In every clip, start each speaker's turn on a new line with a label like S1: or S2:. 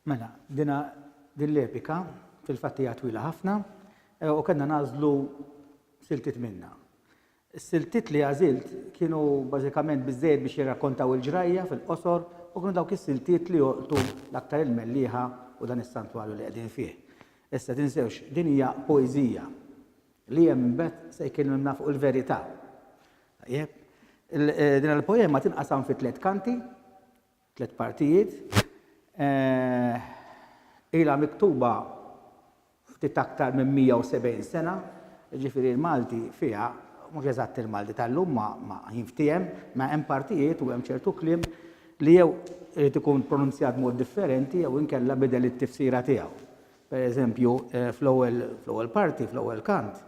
S1: Mela, dina din l-epika fil-fattija twila ħafna eh, u kellna nażlu siltit minna. Is-siltiet li għażilt kienu bażikament biżżejjed biex jirrakkontaw il-ġrajja fil-qosor u kienu dawk is-siltiet li jolqtu l-aktar il-mellieħa u dan is-santwarju li qegħdin fih. Issa, tinsewx, din hija poeżija. Li hemm imbagħad se jkellimna fuq il-verità. Tajjeb? Din il-poema tinqasam fi tliet kanti. Tliet partijiet. Ilha miktuba ftit aktar minn 170 sena, jiġifieri l-Malti fiha, mhux eżatt il-Malti tal-lum ma jinftiehem, ma hemm partijiet u hemm ċertu kliem li jew irid ikun pronunzjat b'mod differenti jew inkella bidel it-tifsira tiegħu. Per eżempju, fl-ewwel parti, fl-ewwel kant,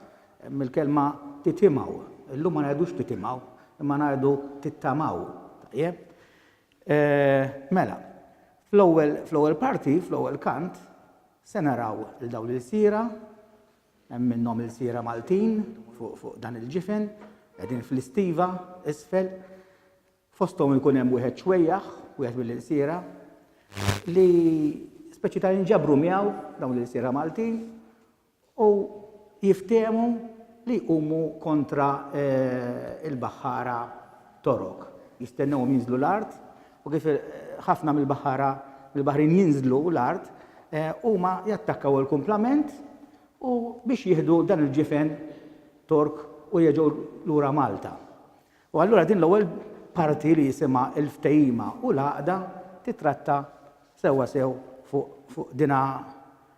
S1: hemm il-kelma titimgħu. Illum ma ngħidux titimgħu, imma ngħidu tittamaw. Tajjeb? Mela, fl-ewwel parti, fl-ewwel kant, se naraw il dawn l-ilsira, hemm minnhom ilsira Maltin fuq dan il-ġifen, qegħdin fl-istiva, isfel. fosthom ikun hemm wieħed ċwejjaħ, wieħed mill-ilsiera, li speċi ta' jinġabru miegħu dawn l-ilsiera Maltin u jiftehmu li jqumu kontra l-baħħara Torok. Jistennewhom jinżlu l-art u kif ħafna mill-baħħara mill-baħrin jinżlu l-art, huma jattakkaw il-kumplament u biex jieħdu dan il-ġifen Tork u jerġgħu lura Malta. U allura din l-ewwel parti li jisimha l-ftehima u l-għaqda tittratta sewwa sew fuq dinha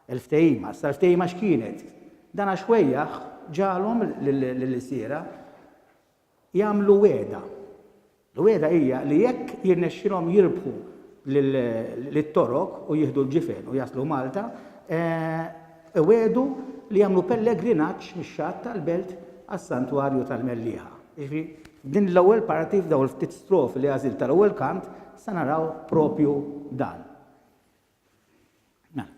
S1: l-ftehima. Issa l-ftehima x'kienet? Dana xwejjaħ ġagħalhom lill-ilsiera jagħmlu wegħda. L-wegħda hija li jekk jirnexxilhom jirbħu lit-Torok u jieħdu l-ġifen u jaslu Malta, Iwiegħdu li jagħmlu pellegrinaġġ mix-xatt tal-belt għas-santwarju tal-Mellieħa. Jiġifieri f'din l-ewwel parti, f'dawn il-ftit strofi li għażilt tal-ewwel kant, se naraw proprju dan. Mela.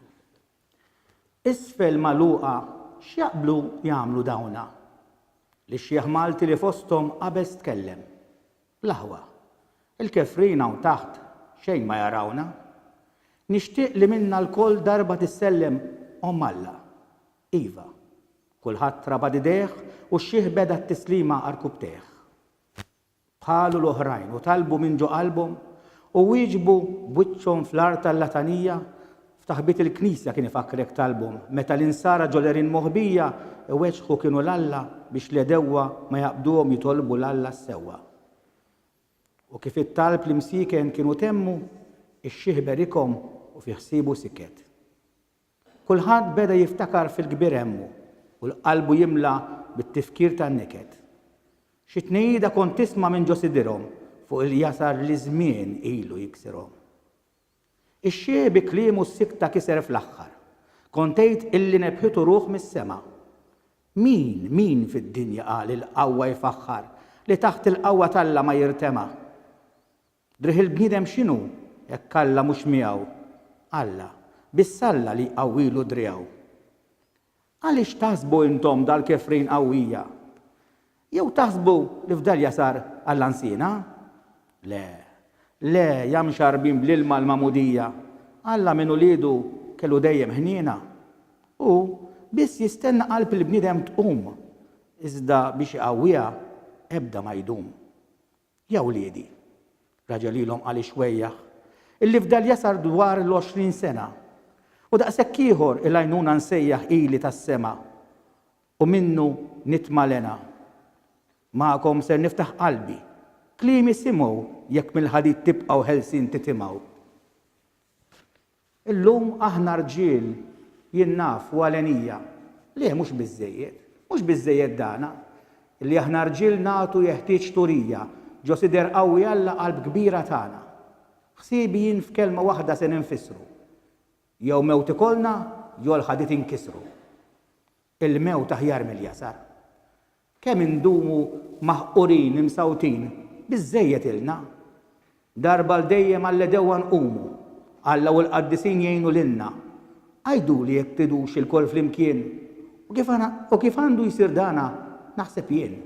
S1: Isfel magħluqa x'jaqblu jagħmlu dawna? Li xjieħ Malti li fosthom qabeż tkellem. L-aħwa. Il-kefrin hawn taħt xejn ma jarawna. Nixtieq li minna lkoll darba tissellem Omm Alla. Iva. Kulħadd rabad idejh u x-xiħ beda t-tislima għarkupptejh. Bħalu l-oħrajn u talbu minn ġo qalbhom u wieġbu b'wiċċhom fl-art għal-latanija F'taħbit il-Knisja kien ifakkrek tal-bhom meta l-insara ġolerin moħbija iweġħu kienu 'l Alla biex l-għedewwa ma jaqbduhom jitolbu 'l Alla s-sewwa. U kif it-talb l-imsieken kienu temmu, ix-xiħ berikhom u fi ħsiebu siket. Kulħadd beda jiftakar fil-kbir għemmu u l-qalbu jimla bit-tifkir tan-niket. Xi tnejjida kont tisma' minn ġo sidirhom fuq il-jasar li ż-żmien ilu jiksirhom. Ix-xieħ bi kliemu s-sikta kiser fl-aħħar. Kont għidt illi nebħitu ruħ mis-sema. Min, min fid-dinja qal li l-qawwa jfaħħar, li taħt il-qawwa t'Alla ma jirtema'? Driegħ il-bniedem x'inhu, hekk Alla mhux miegħu? Alla, biss Alla li jqawwilu driegħu. Għaliex taħsbu intom dal-kefrin qawwija? Jew taħsbu li fdal jasar għall-għansiena? Le, le, ja mxarrbin bl-ilma l-magħmudija, Alla minn uliedu kellu dejjem ħniena. Hu biss jistenna qalb il-bniedem tqum, iżda biex iqawwiha ebda ma jdum. Ja wliedi, raġa' lilhom qal ix-xwejjaħ, illi fdal jasar dwar l-għoxrin sena, u daqshekk ieħor il-għajnuna nsejjaħ ili tas-sema, u minnu nitma' l-hena. Magħkom ser niftaħ qalbi, kliemi simgħu jekk mill-ħadid tibqgħu ħelsin titimgħu. Illum aħna rġiel, jien naf u Alenija, le mhux biżżejjed, mhux biżżejjed dana, li aħna rġiel nagħtu jeħtieġ turija, ġo sidher qawwi Alla qalb kbira tagħna. Ħsiebi jien f'kelma waħda se ninfissru, jew mewt ikollna jew l-ħadid inkissru. Il-mewt aħjar mill-jasar. Kemm indumu maħqurin, imsawtin, biżżejjed ilna. Darba għal dejjem għall-għedewwa nqumu. Alla u l-qaddisin jgħinu lilna. Għiduli jekk tridux ilkoll flimkien, u kif u kif għandu jsir dana naħseb jien.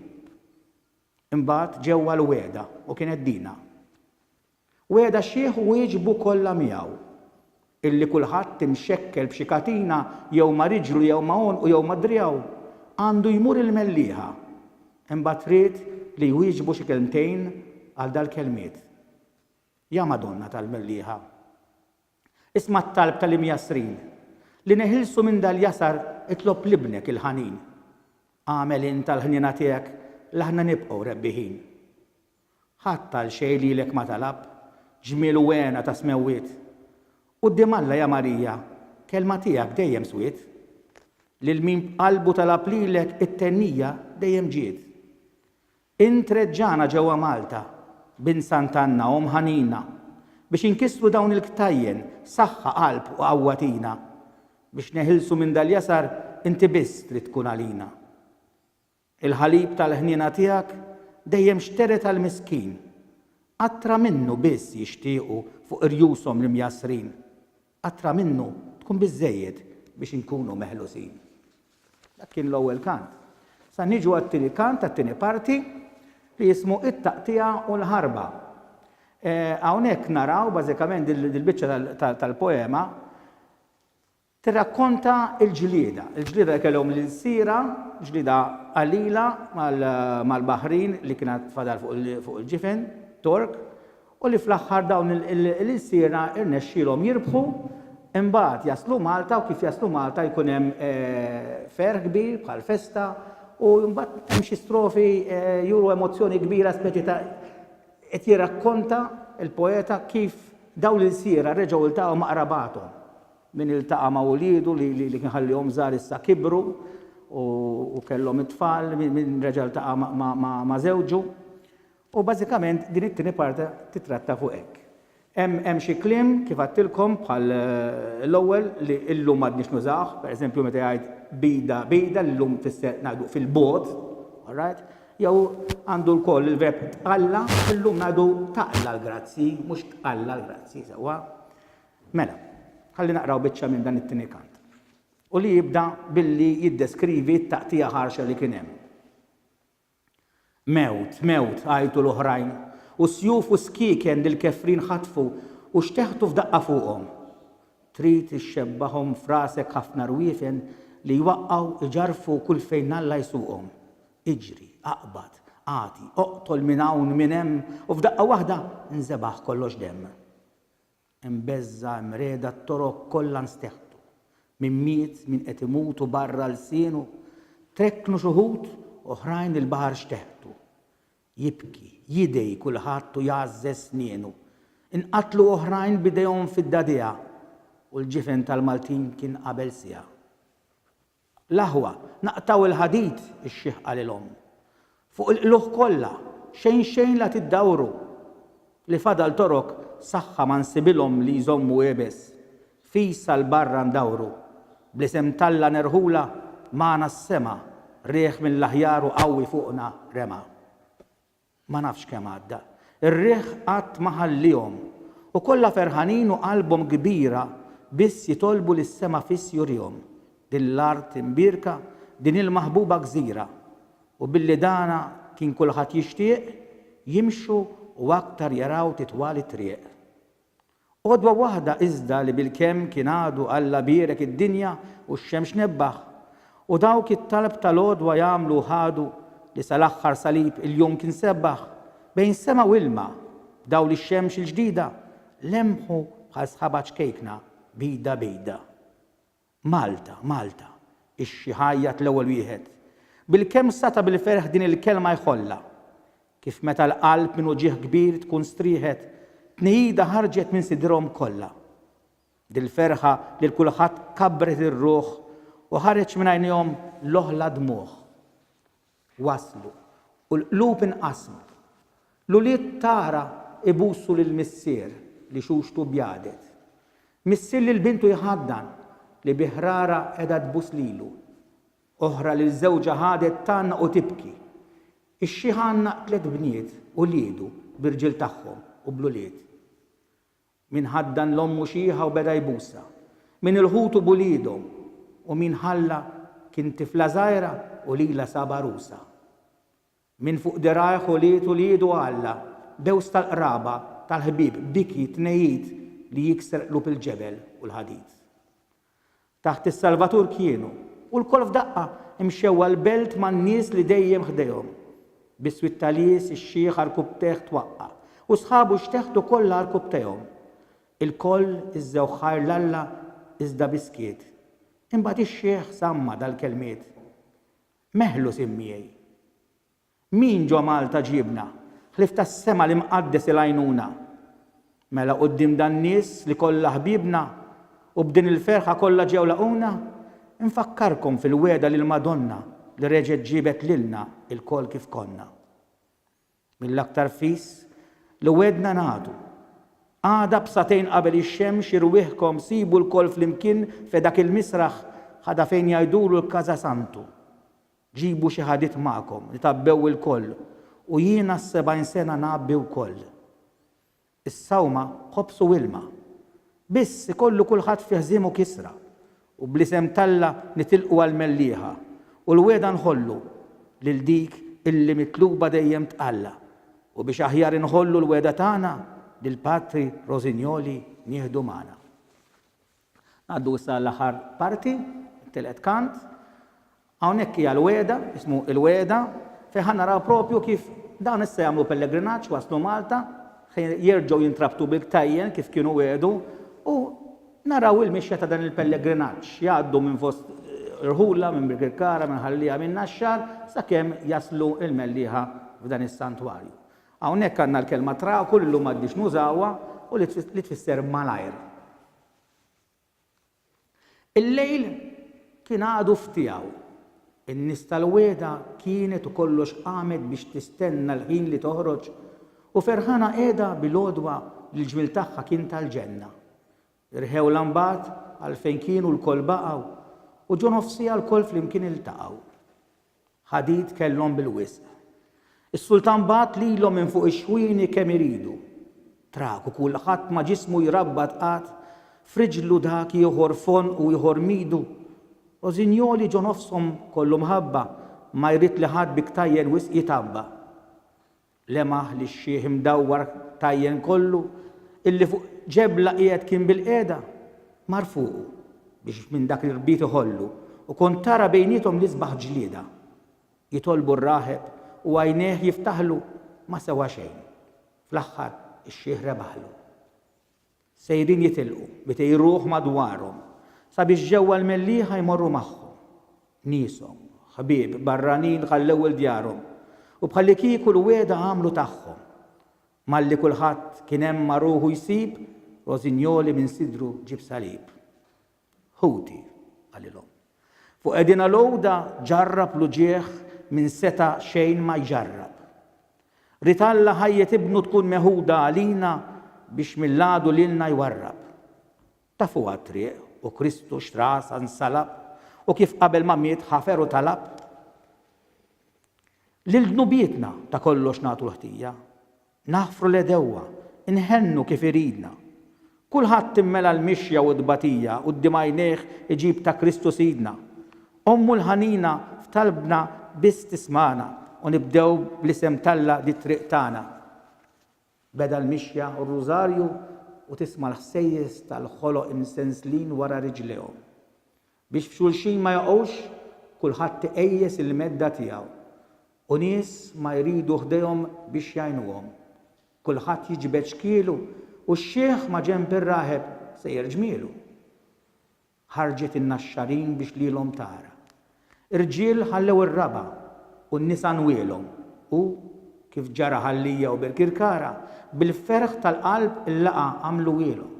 S1: Imbagħad ġewwa l-wegħda u kienet dina. Wegħda xiħ u għiġbu kollha miegħu. Illi kulħadd imxekkel b'xi katina jew ma' riġlu jew ma' għonqu jew ma' driegħu, għandu jmur il-mellieħa. Imbagħad ried li jwieġbu xi kelmtejn għal dal-kelmiet. Ja Madonna tal-Mellieħa. Isma' t-talb tal-imjassrin. Li neħilsu minn dal-jasar itlob l-Ibnek il-ħanin. Agħmel int għall-ħniena tiegħek l-aħna nibqgħu rebbiħin. Ħadd għal xejn lilek ma talab, ġmiel u hena tas-smewwiet. Quddiem Alla ja Marija, kelma tiegħek dejjem swiet. Lil min b'qalbu talab lilek it-thennija dejjem ġiet. Int reġġagħna ġewwa Malta, Bint Sant'Anna, Omm ħanina, biex inkissru dawn il-ktajjen, saħħa, qalb u qawwa tina. Biex neħilsu minn dal-jasar inti biss trid tkun għalina. Il-ħalib tal-ħniena tiegħek dejjem xtered għall-miskin. Qatra minnu biss jixtiequ fuq irjushom l-imjassrin. Qatra minnu tkun biżżejjed biex inkunu meħlusin. Dak kien l-ewwel kant. Sa niġu għat-tieni kant, għat-tieni parti, li jismu It-Taqtigħa u l-Ħarba. Hawnhekk naraw bażikament dil-biċċa tal-poema, Tirrakkonta l-ġlieda, il-ġlieda li kellhom l-ilsiera, ġlieda qalila mal-Baħrin li kien għad fadal fuq il-ġifen Tork u li fl-aħħar dawn l-ilsiera rnexxielhom jirbħu, imbagħad jaslu Malta u kif jaslu Malta jkun hemm ferħ kbir bħal festa u mbagħad hemm xi strofi juru emozzjoni kbira speċi ta' qed jirrakkonta l-poeta kif dawn l-ilsiera reġgħu ltaqgħu ma' qrabathom Min iltaqa' ma' uliedu li kien ħallihom żgħar issa kibru u kellhom it-tfal, min reġa' ltaqa' ma' żewġu. U bażikament din it-tieni parti titratta fuq hekk. Hemm xi kliem kif għadtilkom bħal l-ewwel li illum m'għadniex nużawh, pereżempju meta jgħid bigħda bigħda li llum tfisser ngħidu fil-bogħod, alright? Jew għandu lkoll il-verb tqalla, illum ngħidu taqla l-grazzi, mhux tqalla l-grazzi, sewwa? Mela, ħalli naqraw biċċa minn dan it-tieni kant, u li jibda billi jiddeskrivi t-taqtigħa ħarxa li kien hemm. Mewt, mewt, għajtu l-oħrajn, u sjuf u skieken li l-kefrin ħatfu u xteħtu f'daqqa fuqhom. Trid ixxebbahom f'rasek ħafna rwiefen li jwaqqgħu, iġarrfu kull fejn Alla jsuqhom. Iġri, aqbad, agħti, oqtol minn hawn, minn hemm, u f'daqqa waħda nżebaħ kollox demm. Hemm beżża', hemm regħda, t-toroq kollha nsteħtu. Min miet, min qed imut u barra lsienu trekknu x'uħud, oħrajn il-baħar xteħtu. Jibki, jidgħi kulħadd u jgħażżeż snienu. Inqatlu oħrajn b'idejhom fid-dagħdigħa u l-ġifen tal-Maltin kien qabel siegħa. L-aħwa, naqtgħu l-ħadid, ix-xiħ qalilhom. Fuq il-qlugħ kollha, xejn xejn la tiddawru! Li fadal torok saħħa ma nsibilhom li jżommu iebes. Fis għal barra ndawru. Bl-isem t'Alla nerħulha, magħna s-sema, riħ mill-aħjar u qawwi fuqna rema. Ma nafx kemm għadda. Ir-riħ qatt ma ħalliehom. U kollha ferħanin u qalbhom kbira biss jitolbu lis-sema fiss jurihom din l-art imbierka, din il-maħbuba gżira. U billi dana kien kulħadd jixtieq, jimxu u aktar jaraw titwal it-triq. Għodwa waħda iżda li bilkemm kien għadu Alla bierek id-dinja u x-xemx nebbaħ, u dawk it-talb tal-għodwa jagħmlu u ħadu, li sal-aħħar salib il-jum kien sebbaħ, bejn sema u ilma, b'dawl ix-xemx il-ġdida, lemħu bħal sħaba ċkejkna, bida bida. Malta, Malta, ix jgħajjat l-ewwel wieħed. Bil-kemm sata bil-ferħ din il-kelma jħollha. Kif meta l-qalb minn uġigħ kbir tkun strieħet, tnijida ħarġet minn sidrhom kollha. Dil-ferħa lil kulħadd kabbret ir-ruħ u ħareġ minn għajnejhom l-oħla dmugħ. waslu, u l-qlub inqasmu. L-ulied t'Ara ibusu lil missier li xuxtu bjadet. Missier lil bintu jħaddan li bi ħrara qiegħda tbus lilu. Oħra lil żewġha ħadet tgħannaq u tibki. Ix-xiħ għannaq tliet bniet, uliedu, b'irġiel tagħhom u bl-ulied. Min ħaddan l-ommu xiħa u beda jbusha, min il-ħutu b'uliedhom, u min ħalla kien tifla żgħira u lilha sab għarusa. Min fuq dirgħajh ulied uliedu għalla, dewż tal-qraba, tal-ħbieb, biki, tnejjid li jiksrqlu bil-ġebel u l-ħadid. taħt is-Salvatur kienu, u lkoll f'daqqa, imxew għall-belt man-nies li dejjem ħdejhom. Biswit ta' lies, ix-xiħ għarkub teħt twaqqa', u sħabu x'teħt ukoll l-għarkub tehom. Ilkoll iżżewh ħajr l-Alla, iżda bi skiet. Imbagħad ix-xiħ samma' dal-kelmiet, Meħlu sim miegħi. Min ġo Malta ġiebna, ħlief tas-sema l-Imqaddes il-għajnuna? Mela quddiem dan-nies li kollha ħbiebna u b'din il-ferħa kollha ġew laqgħuna, infakkarkom fil-wegħda li l-Madonna li reġgħet ġiebet lilna ilkoll kif konna. Mill-aktar fis li wegħdna nagħtu. Għada b'sagħtejn qabel ix-xemx irwieħkom sibu lkoll flimkien fe dak il-misraħ ħada fejn jgħidulu l-Casa Santu. Ġibu xi ħadid magħkom li tgħabbew ilkoll, u jien għas-sebgħin sena ngħabbi wkoll. Is-sawma, ħobż u ilma. Biss, ikollu kulħadd fi ħżiem u kisra, u bl-isem t'Alla nitilqu għall-mellieħa, u l-wegħda nħollu, lil dik illi mitluba dejjem t'Alla, u biex aħjar inħollu l-wegħda tagħna, lill-Patri Rosignoli nieħdu magħna. Ngħaddu issa għall-aħħar parti, it-tielet kant. Hawnhekk hija l-wegħda, ismu Il-Wegħda, fejn ħa naraw proprju kif dawn issa jagħmlu pellegrinaġġ, waslu Malta, ħa jerġgħu jintrabtu bil-ktajjen kif kienu wegħdu u naraw il-mixja ta' dan il-pellegrinaġġ. Jgħaddu minn fost Irħula, minn Birkirkara, minn Ħal-Liegħa, minn Naxxar, sakemm jaslu il-Mellieħa f'dan is-santwarju. Hawnhekk għandna l-kelma traku li llum m'għadniex nużawha u li tfisser malajr. Il-lejl kien għadu f'tiegħu. In-nies tal-wegħda kienet u kollox qamet biex tistenna l-ħin li toħroġ u ferħana qiegħda bil-għodwa li l-ġmiel tagħha kien tal-ġenna. Irħewlha mbagħad għalfejn kienu lkoll baqgħu u ġo nofsiegħa lkoll flimkien iltaqgħu. Ħadid kellhom bil-wisq. Is-Sultan bagħat lilhom minn fuq ix-xwieni kemm iridu. Traku kulħadd ma' ġismu jrabbat qagħad, f'riġlu dak ieħor f'għonqu u ieħor m'idu. Rosignoli ġo nofshom kollu mħabba, ma jrid li ħadd bi ktajjen wisq jitgħabba. Lemaħ li x-xiħ imdawwar tajjen kollu, illi fuq ġebla qiegħed kien bilqiegħda, mar fuqu, biex minn dak l-irbit iħollu, u kont tara bejniethom l-isbaħ ġlieda. Jitolbu r-raħeb u għajnejh jiftaħlu, ma sewa xejn. Fl-aħħar, ix-xiħ rebaħlu. Sejrin jitilqu, mitej ruħ madwarhom, sabiex ġewwa l-mellieħa jmorru magħhom. Nieshom, ħbieb, barranin ħallew il-djarhom, u bħallikieku l-wegħda għamlu tagħhom. Malli kulħadd kien hemm ma' ruħu jsib, Rosignoli minn sidru ġieb salib. Ħuti, qalilhom, fuq qegħdin għal għoda ġarrab l-uġigħ min seta' xejn ma jġarrab. Ried Alla ħajjet Ibnu tkun meħuda għalina biex mill-għadu lilna jwarrab. Tafuha t-triq u Kristu x'rasa nsalab u kif qabel ma miet ħafer u talab lil dnubietna ta' kollox nagħtu l-ħtija. Naħfru l-għedewwa, inħennu kif iridna. Kulħadd immela l-mixja u t-tbatija quddiem għajnejh iġib ta' Kristu Sidna. Ommu l-ħanina f'talbna biss tismagħna u nibdew bl-isem t'Alla dit-triq tagħna. Beda l-mixja u r-rużarju u tisma' l-ħsejjes tal-ħoloq imsenslin wara riġlejhom. Biex f'xulxin ma jaqgħux, kulħadd iqejjes il-medda tiegħu, u nies ma jridu ħdejhom biex jgħinuhom. Kulħadd jiġbed xkielu, u x-xiħ ma' ġenb ir-raħeb sejjer ġmielu. Ħarġet in-naxxarin biex lilhom tara. Irġiel ħallew ir-raba', u n-nisa nwielhom, u, kif ġara Ħal-Lija u Birkirkara, bil-ferħ tal-qalb il-laqgħa għamluhielhom.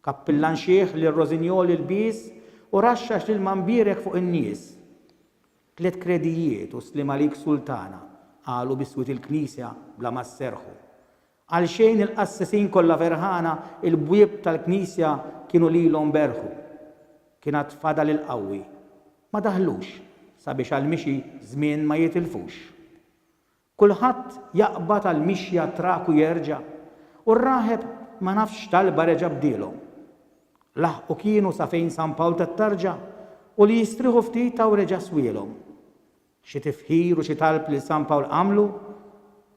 S1: Kappillan xiħ lil Rosignol il-bies u raxxax l-ilma mbierek fuq in-nies. Tliet kredijiet u sliem għalik Sultana, qalu bi swiet il-knisja bla ma sserħu. Għalxejn il-qassisin kollha ferħana il-bwieb tal-knisja kienu lilhom berħu. Kien għad fadal il-qawwi. Ma daħlux sabiex għall-mixi żmien ma jitilfux. Kulħadd jaqbad għall-mixja trak u jerġa', u r-raħeb ma nafx x'talba reġa' bdielhom. Laħqu kienu sa fejn San Pawl tat-Tarġa u li jistrieħu ftit taw reġa' swielhom. Xi tifħir u xi talb lil San Pawl għamlu,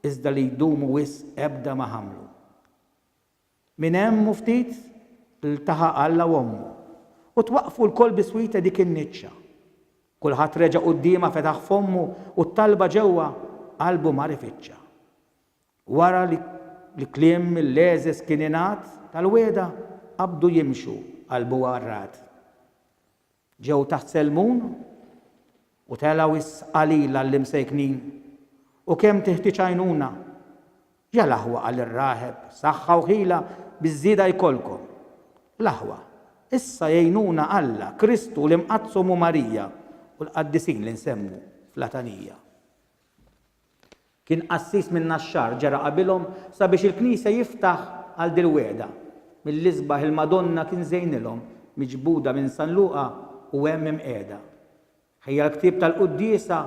S1: iżda li jdumu wisq ebda ma ħammlu. Minn hemm u ftit, ltaħaq Alla u ommu, u twaqqfu lkoll biswit dik in-niċċa. Kulħadd reġa' quddiemha fetaħ fommu u t-talba ġewwa qalbu mar ifittxa. Wara li l-kliem mill-għeżeż kien ingħad tal-wegħda qabdu jimxu qalbu għarrad. Ġew taħt Selmun u telgħu s-sqalil għall-imsejknin. U kemm tiħtieġ għajnuna! Ja l-aħwa qal ir-raħeb, saħħa u ħila biż-żieda jkollkom. L-aħwa, issa jgħinuna Alla, Kristu, l-Imqaddsa Ommu Marija u l-qaddisin li nsemmu fl-għatanija. Kien qassis min-Naxxar, ġara qabilhom sabiex il-knisja jiftaħ għal dil-wegħda. Mill-isbaħ il-Madonna kien żejnilhom, miġbuda minn San Luqa u hemm imqiegħda. Ħejja l-ktieb tal-quddiesa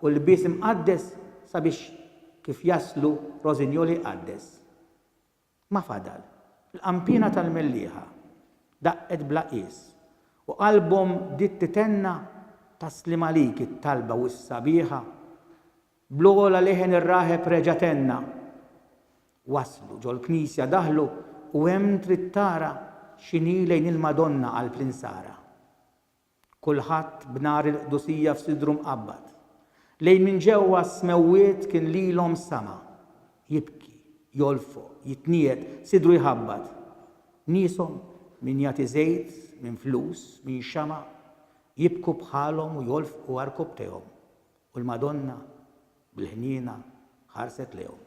S1: u l-lbies imqaddes sabiex kif jaslu Rożinjol iqaddes. Ma fadal. Il-qanpiena tal-mellieħa daqqet bla qies u qalbhom bdiet titenna Taslim għalik it-talba u s-sabiħa Bl-ogħla leħen ir-raħeb reġa' tenna Waslu, ġol-knisja daħlu u hemm trid tara X'inhi lejn il-Madonna qalb l-insara. Kull Ħadd b'nar il-qdusija f'sidru mqabbad, lejn minn ġewwa s-smewwiet kien lilhom sama, jibki, jolfoq, jitniegħed, sidru jħabbat. Nieshom, min jagħti żejt, min flus, min xama', jibku bħalhom u jolfqu għarkubbtejhom, u l-Madonna, bil-ħniena, ħarset lejhom.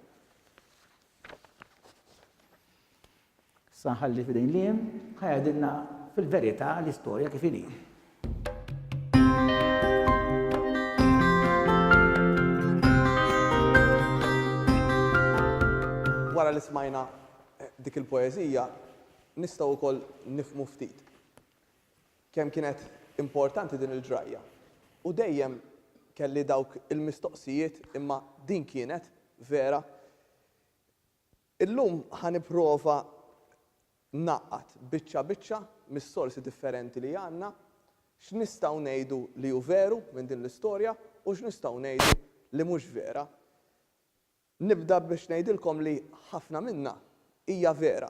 S1: Issa nħalli f'idejn Liam ħa jgħidilna fil-verità l-istorja kif inhi.
S2: wara li smajna eh, dik il-poezija, nistgħu wkoll nifmu ftit kemm kienet importanti din il-ġrajja. U dejjem kelli dawk il-mistoqsijiet imma din kienet vera Illum ħa nipprova ngħaqqad, biċċa biċċa, mis-sorsi differenti li għandna, x'nistgħu ngħidu li hu veru minn din l-istorja u x'nistgħu ngħidu li mhux vera. Nibda biex ngħidilkom li ħafna minnha hija vera.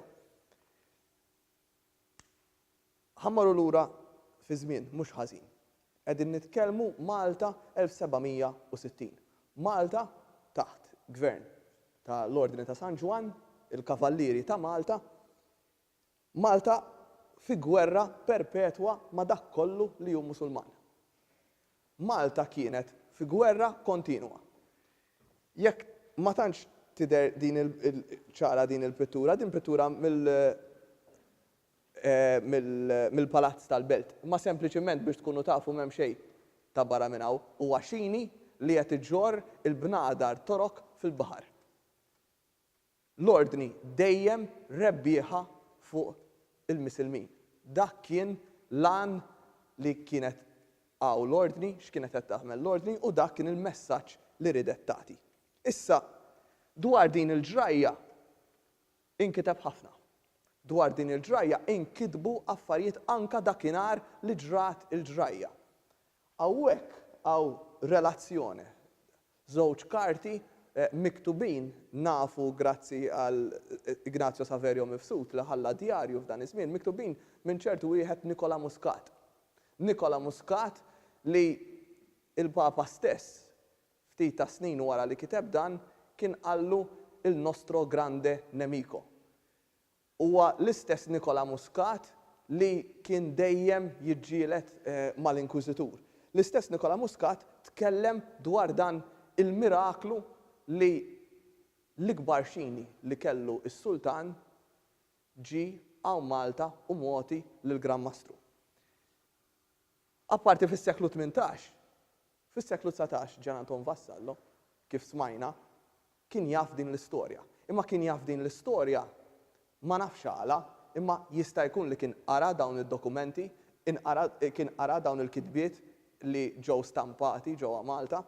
S2: Ħa mmorru lura fiż-żmien mhux ħażin. Qegħdin nitkellmu Malta 1760. Malta taħt gvern ta' l-Ordni ta' San Ġwann, il-Kavallieri ta' Malta. Malta fi gwerra perpetwa ma' dak kollu li hu Musulman. Malta kienet fi gwerra kontinwa. Jekk ma tantx tidher din ċara din il-pittura, din pittura mill mill-Palazz tal-Belt, imma sempliċiment biex tkunu tafu m'hemm xejn ta' barra minn hawn, huwa xini li qed iġorr il-bnadar Torok fil-baħar. L-Ordni dejjem rebbieħa fuq il-Misilmin. Dak kien l-għan li kienet hawn l-Ordni, x'kienet qed tagħmel l-Ordni u dak kien il-messaġġ li riedet tagħti. Issa, dwar din il-ġrajja inkiteb ħafna. Dwar din il-ġrajja inkitbu affarijiet anke dakinhar li ġrat il-ġrajja. Hawnhekk hawn relazzjone Żewġ karti miktubin nafu grazzi għal Ignazio Saverio Mifsud li ħalla djarju f'dan iż-żmien, miktubin minn ċertu wieħed Nikola Muscat. Nikola Muscat li l-Papa stess ftit tas-snin wara li kiteb dan kien qallu il nostro grande nemico. Huwa l-istess Nicola Muscat li kien dejjem jiġġieled mal-Inkwiżitur. L-istess Nicola Muscat tkellem dwar dan il-miraklu li l-ikbar xini li kellu s-Sultan ġie hawn Malta u mogħti lill-Gran Mastru. Apparti fis-seklu tmintax, fis-seklu dsatax Gian Anton Vassallo, kif smajna, kien jaf din l-istorja. Imma kien jaf din l-istorja, ma nafx għala, imma jista' jkun li kien qara dawn id-dokumenti, kien qara dawn il-kitbiet li ġew stampati ġewwa Malta.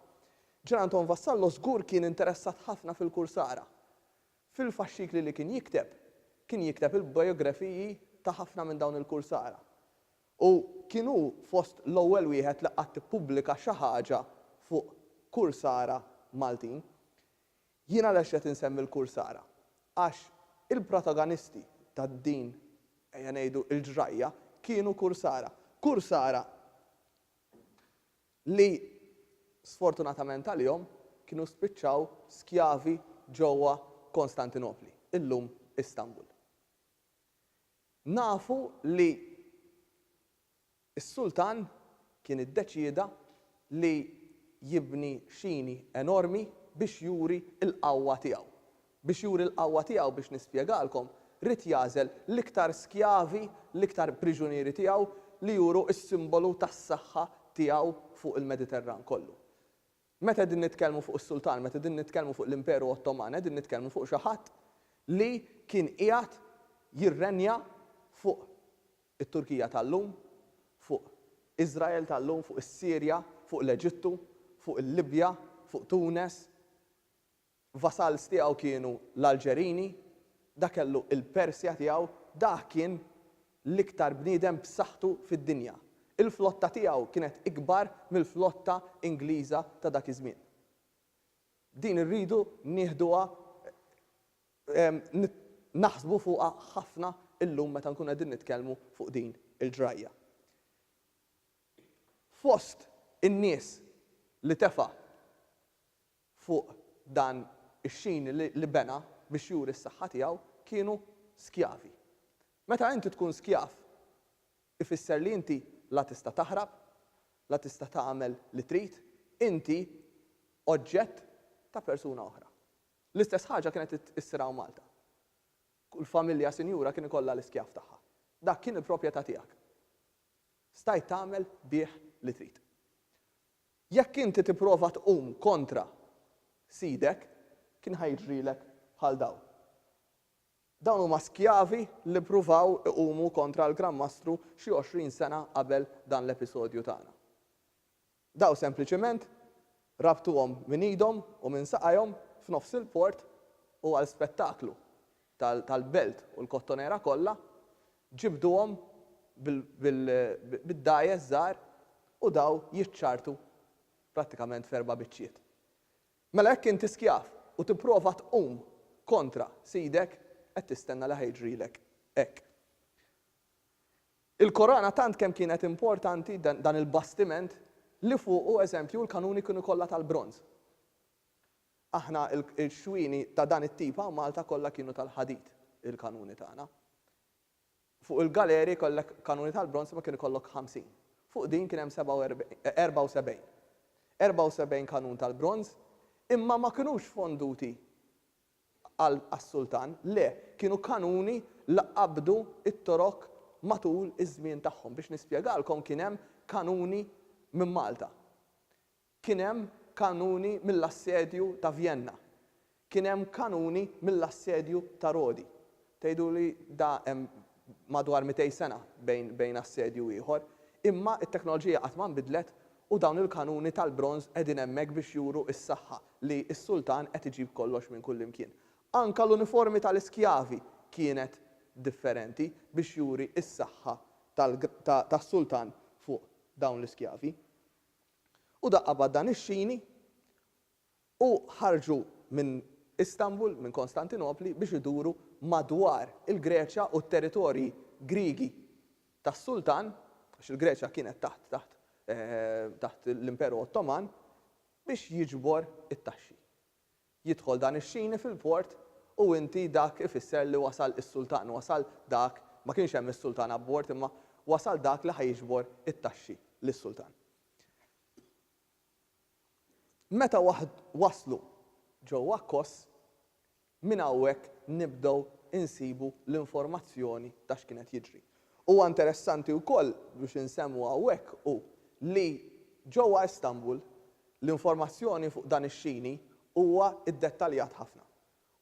S2: Gian Anton Vassallo żgur kien interessat ħafna fil-Kursara. Fil-faxxikli li kien jikteb, kien jikteb il-biografiji ta' ħafna minn dawn il-Kursara. U kien hu fost l-ewwel wieħed li qatt ippubblika xi ħaġa fuq kursara Maltin. Jien għalax qed insemmi l-kursara? Għax il-protagonisti ta' din, ejja ngħidu, il-ġrajja kienu kursara. Kursara li sfortunatament għalihom kienu spiċċaw skjavi ġewwa Konstantinopli, illum Istanbul. Nafu li s-sultan kien iddeċieda li jibni xini enormi biex juri l-qawwa tiegħu. Biex juri l-qawwa tiegħu, biex nispjegalkom, ried jagħżel l-iktar skjavi, l-iktar priġunieri tiegħu li juru s-simbolu tas-saħħa tiegħu fuq il-Mediterran kollu. Meta qegħdin nitkellmu fuq is-sultan, meta qegħdin nitkellmu fuq l-Imperu Ottoman, qegħdin nitkellmu fuq xi ħadd li kien qiegħed jirrenja fuq it-Turkija tal-lum, fuq Iżrael tal-lum, fuq is-Sirja, fuq l-Eġittu, fuq il-Libja, fuq Tunes, Vassals tiegħu kienu l-Alġerini, dak kellu l-Persja tiegħu, dah kien l-iktar bniedem b'saħħtu fid-dinja. Il-flotta tiegħu kienet ikbar mill-flotta Ingliża ta' dak iż-żmien. Din irridu nieħduha naħsbu fuqha ħafna llum meta nkunu qegħdin nitkellmu fuq din il-ġrajja. Fost in-nies li tefa' fuq dan ix-xini li bena biex juri s-saħħa tiegħu, kienu skjavi. Meta inti tkun skjav, ifisser li inti la tista' taħrab, la tista' tagħmel li trid, inti oġġett ta' persuna oħra. L-istess ħaġa kienet issir hawn Malta. Kull familja sinjura kien ikollha l-iskjav tagħha. Dak kien il-proprjetà tiegħek. Stajt tagħmel bih li trid. Jekk inti tipprova tqum kontra sidek, kien ħa jiġrilek bħal dawn. Dawn huma skjavi li ppruvaw iqumu kontra l-Gran Mastru xi għoxrin sena qabel dan l-episodju tagħna. Dawn sempliċiment rabtuhom minn idhom u minn saqajhom f'nofs il-port u għal spettaklu tal-belt u l-kottonera kollha, ġibduhom bid-dgħajjes żgħar u daw jiċċartu prattikament f'erba' biċċiet. Mela jekk inti skjav u tipprova tqum kontra sidek, qed tistenna li ħa jiġrilek hekk. Il-Korana tant kemm kienet importanti, dan il-bastiment li fuqu, eżempju, l-kanuni kienu kollha tal-bronż. Aħna l-xwieni ta' dan it-tip hawn Malta kollha kienu tal-ħadid, il-kanuni tagħna. Fuq il-galeri kellek kanuni tal-bronż imma kien ikollok 50. Fuq din kien hemm 74. 74 kanun tal-bronż imma ma kinux fonduti għas-sultan, le, kienu kanuni li qabdu t-Torok matul iż-żmien tagħhom. Biex nispjegalkom kien hemm kanuni minn Malta. Kien hemm kanuni mill-assedju ta' Vjenna. Kien hemm kanuni mill-assedju ta' Rodi. Tgħiduli da hemm madwar mitej sena bejn bejn assedju u ieħor. Imma t-teknoloġija qatt ma nbidlet u dawn il-kanuni tal-bronż qegħdin hemmhekk biex juru s-saħħa li s-sultan qed iġib kollox minn kullimkien. Anke l-uniformi tal-iskjavi kienet differenti biex juri s-saħħa tal-ta' tas-sultan fuq dawn l-iskjavi. U daqqa bad dan ix-xini, u ħarġu minn Istanbul, minn Kostantinopli, biex iduru madwar il-Greċja u t-territorji Griegi tas-sultan, għax il-Greċja kienet taħt taħt taħt l-Imperu Ottoman, biex jiġbor it-taxxi. Jidħol dan ix-xini fil-port u inti dak ifisser li wasal is-sultan, wasal dak, ma kienx hemm is-sultan abbord imma wasal dak li ħa jiġbor it-taxxi lis-sultan. Meta waslu ġewwa Kos, minn hawnhekk nibdew insibu l-informazzjoni ta' x'kien qed jiġri. Huwa interessanti wkoll biex insemmu hawnhekk hu li ġewwa Istanbul l-informazzjoni fuq dan ix-xini huwa ddettaljat ħafna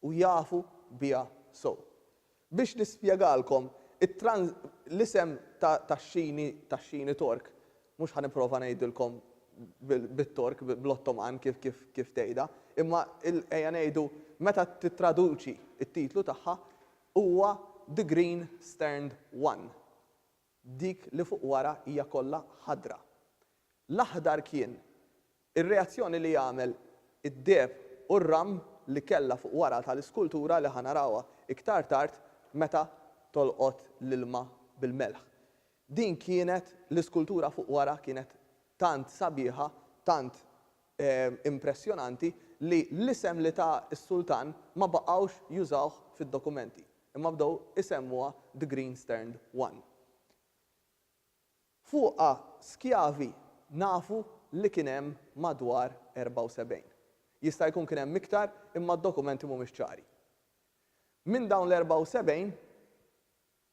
S2: u jafu biha sew. Biex nispjegalkom l-isem tax-xini tax-xini Tork, mhux ħa nipprova ngħidilkom bit-Tork, bl-Ottoman kif tgħidha, imma ejja ngħidu meta tittraduċi t-titlu tagħha, Huwa the green sterned one, dik li fuq wara hija kollha ħadra. L-aħdar kien ir-reazzjoni li għamel id-deheb u r-ram li kellha fuq wara tal-iskultura li ħa narawha iktar tard meta tolqot l-ilma bil-melħ. Din kienet l-iskultura fuq wara kienet tant sabiħa, tant impressjonanti li l-isem li ta s-Sultan ma baqgħux jużawh fid-dokumenti, imma bdew isemmuha The Green Sterned One. Fuqha skjavi nafu li kien hemm madwar 74. Jista' jkun kien hemm iktar imma d-dokumenti mhumiex ċari. Minn dawn l-74,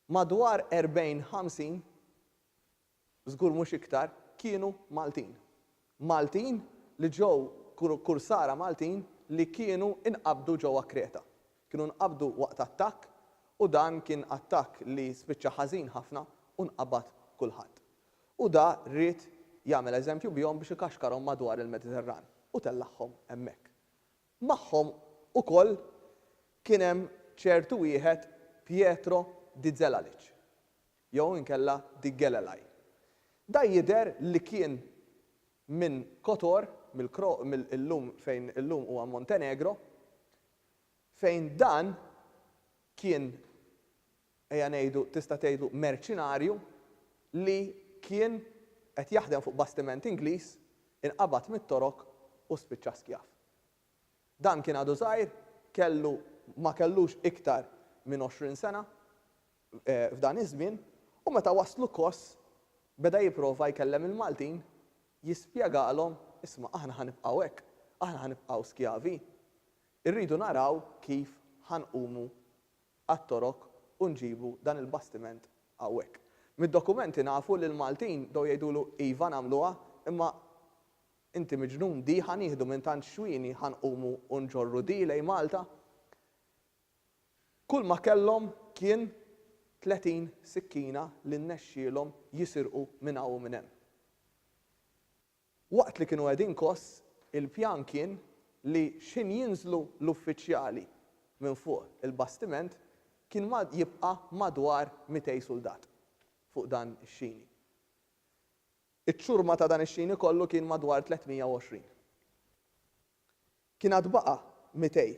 S2: Madwar 40, 50, żgur mhux iktar, kienu Maltin. Maltin li ġew kursara Maltin li kienu nqabdu ġewwa Kreta. Kienu nqabdu waqt attakk u dan kien attakk li spiċċa ħażin ħafna u nqabad kulħadd. U da ried jagħmel eżempju bihom biex ikaxkarhom madwar il-Mediterran u tellagħhom hemmhekk. Magħhom ukoll kien hemm ċertu wieħed Pietro di Zelalic, jew inkella di Gelelai. Dan jidher li kien minn Kotor, mill-Kro, mill, illum, fejn illum huwa Montenegro, fejn dan kien ejja ngħidu, tista' tgħidlu merċinarju li kien qed jaħdem fuq bastiment Ingliż, inqabad mit-Torok u spiċċa skjav. Dan kien għadu żgħir, kellu, ma kellux iktar minn għoxrin sena f'dan iż-żmien u meta waslu Kos beda jipprova jkellem il-Maltin, jispjegalhom, isma' aħna ħa nibqgħu hekk, aħna ħa nibqgħu skjavi, irridu naraw kif ħa nqumu għat-Torok u nġibu dan il-bastiment hawnhekk. Mid-dokumenti nafu li l-Maltin bdew jgħidulu iva nagħmluha imma inti miġnun di ħa nieħdu minn tant xwieni ħa nqumu u nġorru di lejn Malta? Kull ma kellhom kien tletin sikkina li nnexxielhom jisirqu minn hawn u minn hemm. Waqt li kienu qegħdin kos, il-pjan kien li x'ħin jinżlu l-uffiċjali minn fuq il-bastiment kien ma jibqa' madwar mitej suldat fuq dan ix-xini. Iċ-ċurma ta' dan ix-xini kollu kien madwar 320. Kien għad baqa' mitej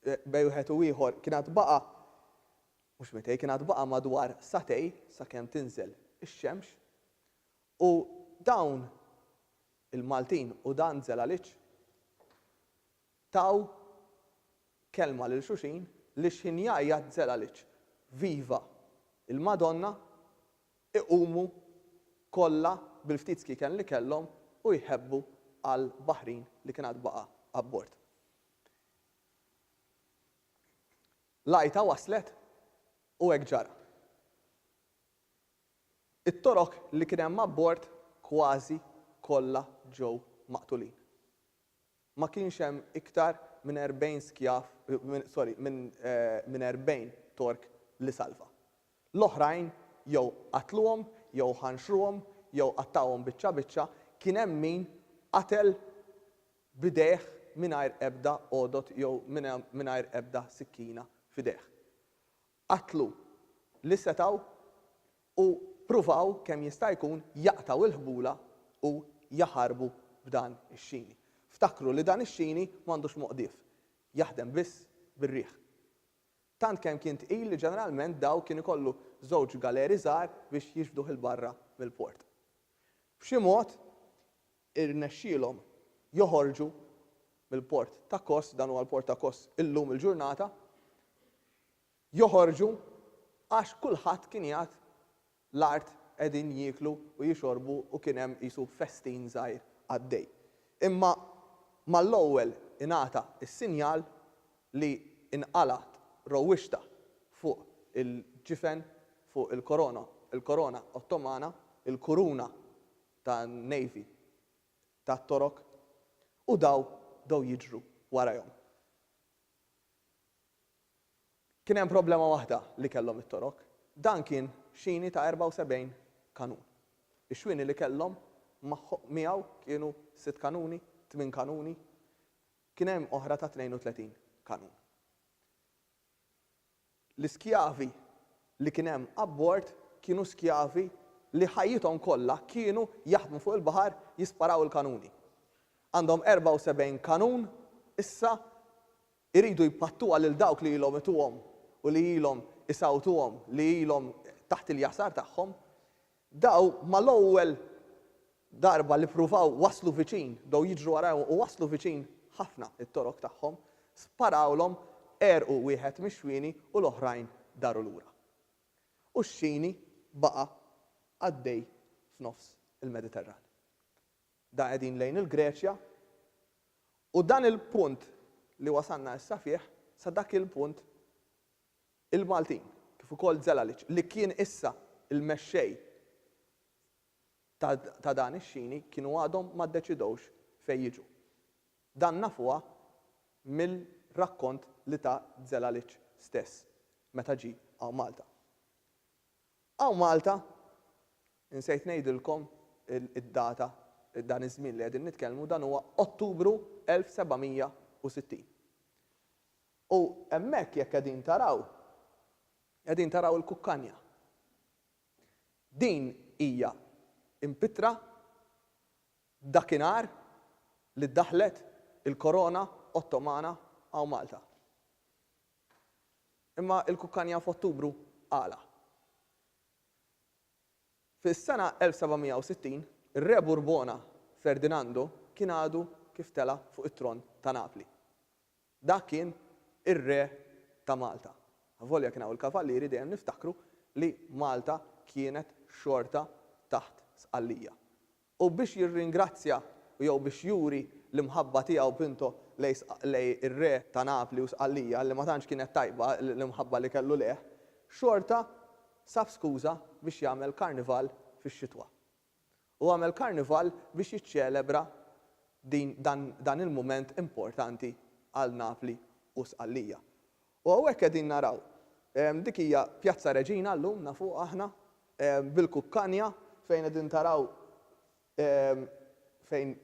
S2: bej wieħed u ieħor kien għad baqa' mhux mitej kien għad baqa' madwar sagħtej sakemm tinżel ix-xemx U dawn il-Maltin u dan Zelalic taw kelma lil xuxin li x'ħin jgħajjat Zelalic viva il-Madonna iqumu kollha bil-ftit skiken li kellhom u jħebbu għal baħrin li kien għad baqa' abbord. L-għajta waslet u hekk ġara. It-Torok li kien hemm abbord kważi kollha ġew maqtulin. Ma kienx hemm iktar minn erbgħin skjav, sorry, minn erbgħin Tork li salva. L-oħrajn jew qatluhom jew ħanxruhom jew qattgħuhom biċċa biċċa, kien hemm min qatel b'idejh mingħajr ebda għodod jew mingħajr ebda sikkina f'idejh. qatlu li setgħu u ppruvaw kemm jista' jkun jaqtgħu il-ħbula u jaħarbu b'dan ix-xini. Ftakru li dan ix-xini m'għandux moqdif, jaħdem biss bir-riħ. Tant kemm kien tqil li ġeneralment Daw kien ikollu żewġ galeri żgħar biex jixbduh 'il barra mill-port. B'xi mod, irnexxielhom joħorġu mill-port ta' Kos, dan huwa l-port ta' Kos illum il-ġurnata, joħorġu għax kulħadd kien jgħadd l-art qegħdin jieklu u jixorbu u kien hemm qisu festin żgħir għaddej. Imma mal-ewwel ingħata s-sinjal li nqalgħet rowwixta fuq il-ġifen, fuq il-korona, il-korona Ottomana, il-kuruna ta' Navy ta' Torok u daw bdew jiġru warajhom. Kien hemm problema waħda li kellhom it-Torok, dan kien xini ta' 74 kanun. Ix-xwieni li kellhom miegħu kienu sitt kanuni, tmien kanuni, kien hemm oħra ta' 32 kanun. L-iskjavi li kien hemm abbord kienu skjavi li ħajjithom kollha kienu jaħdmu fuq il-baħar jisparaw il-kanuni. Għandhom 74 kanun issa jridu jpattuha lil dawk li ilhom ituhom u li ilhom isawtuhom li ilhom taħt il-jasar tagħhom. Bdew mal-ewwel darba li ppruvaw waslu viċin, bdew jiġru warajhom u waslu viċin ħafna, it-torok tagħhom sparawlhom, għerqu wieħed mix-xwieni u l-oħrajn daru lura. U x-xini baqa' għaddej f'nofs il-Mediterran. Da qegħdin lejn il-Greċja u dan il-punt li wasalna issa fih, sa dak il-punt, il-Maltin, kif ukoll Zelalic, li kien issa l-mexxej ta' dan ix-xini, kienu għadhom ma ddeċidewx fejn jiġu. Dan nafuha mill-rakkont li ta Zelalic stess meta ġie hawn Malta. Hawn Malta, insejt ngħidilkom id-data, dan iż-żmien li qegħdin nitkellmu, dan huwa Ottubru 1760. U hemmhekk jekk qegħdin taraw, qegħdin taraw il-kukkanja. Din hija mpittra dakinhar li ddaħħlet il-Korona Ottomana hawn Malta. Imma l-kukkanja f'Ottubru għala? Fis-sena 1760, ir-Re Burbona Ferdinando kien għadu kif tela' fuq it-tron ta' Napli. Dak kien ir-Re ta' Malta. Avolja kien hawn il-Kavallieri dejjem niftakru li Malta kienet xorta taħt Sqallija. U biex jirringrazzja jew biex juri l-imħabba tiegħu Pinto lej ir-Re ta' Napli u Sqallija li ma tantx kienet tajba l-imħabba li kellu lejh, xorta sab skuża biex jagħmel karnival fix-xitwa. u għamel karnival biex jiċċelebra din dan dan il-mument importanti għal Napli u Sqallija. U hawnhekk qegħdin naraw ehm dik hija Pjazza Reġina llum nafuha aħna ehm bil-kukkanja fejn qegħdin taraw ehm fejn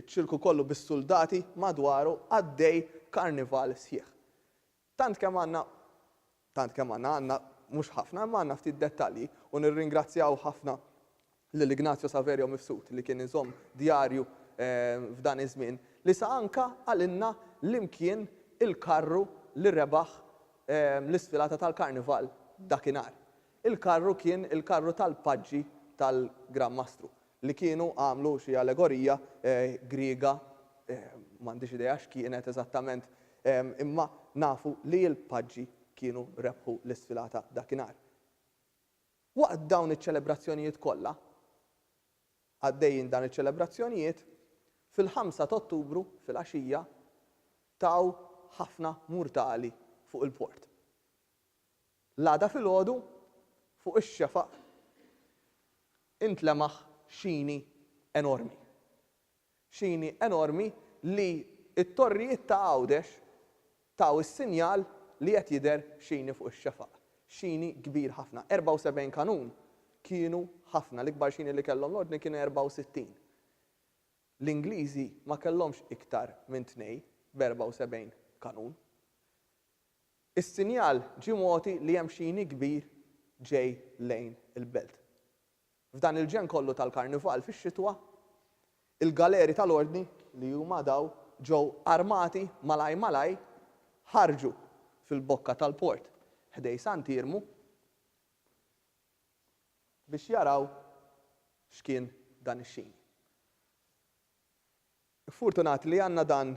S2: iċ-ċirku kollu bis-suldati madwaru għaddej karnival sħiħ. Tant kemm għandna, tant kemm għandna, għandna mhux ħafna, imma għandna ftit dettalji, u nirringrazzjaw ħafna lil Ignazio Saverio Mifsud li kien iżomm djarju f'dan iż-żmien, li sa anka qalilna l-imkien il-karru li rebaħ l-isfilata tal-Karnival dakinhar. Il-karru kien il-karru tal-paġġi tal-Gran Mastru, li kienu għamlu xi allegorija Griega, m'għandix idea x'kienet eżattament, imma nafu li l-paġġi kienu rebħu l-isfilata dakinhar. Waqt dawn iċ-ċelebrazzjonijiet kollha, għaddejjin dan iċ-ċelebrazzjonijiet, fil-ħamsa t'Ottubru filgħaxija taw ħafna murtali fuq il-port. L-għada filgħodu, fuq ix-xefaq, intlemaħ xini enormi. Xini enormi li t-torrijiet ta' Għawdex taw is-sinjal li qed jidher xini fuq ix-xefaq. Xini kbir ħafna. 74 kanun kienu ħafna. L-ikbar xini li kellhom l-Ordni kien 64. L-Ingliżi ma kellhomx iktar minn tnej b' 74 kanun. Is-sinjal ġie mogħti li hemm xi jni kbir ġej lejn il-belt. F'dan il-ġenn kollu tal-Karnival fix-xitwa, il-galeri tal-Ordni, li huma daw ġew armati malaj malaj, ħarġu fil-bokka tal-port ħdej Sant'Iermu biex jaraw x'kien dan ix-xini. Fortunati li għandna dan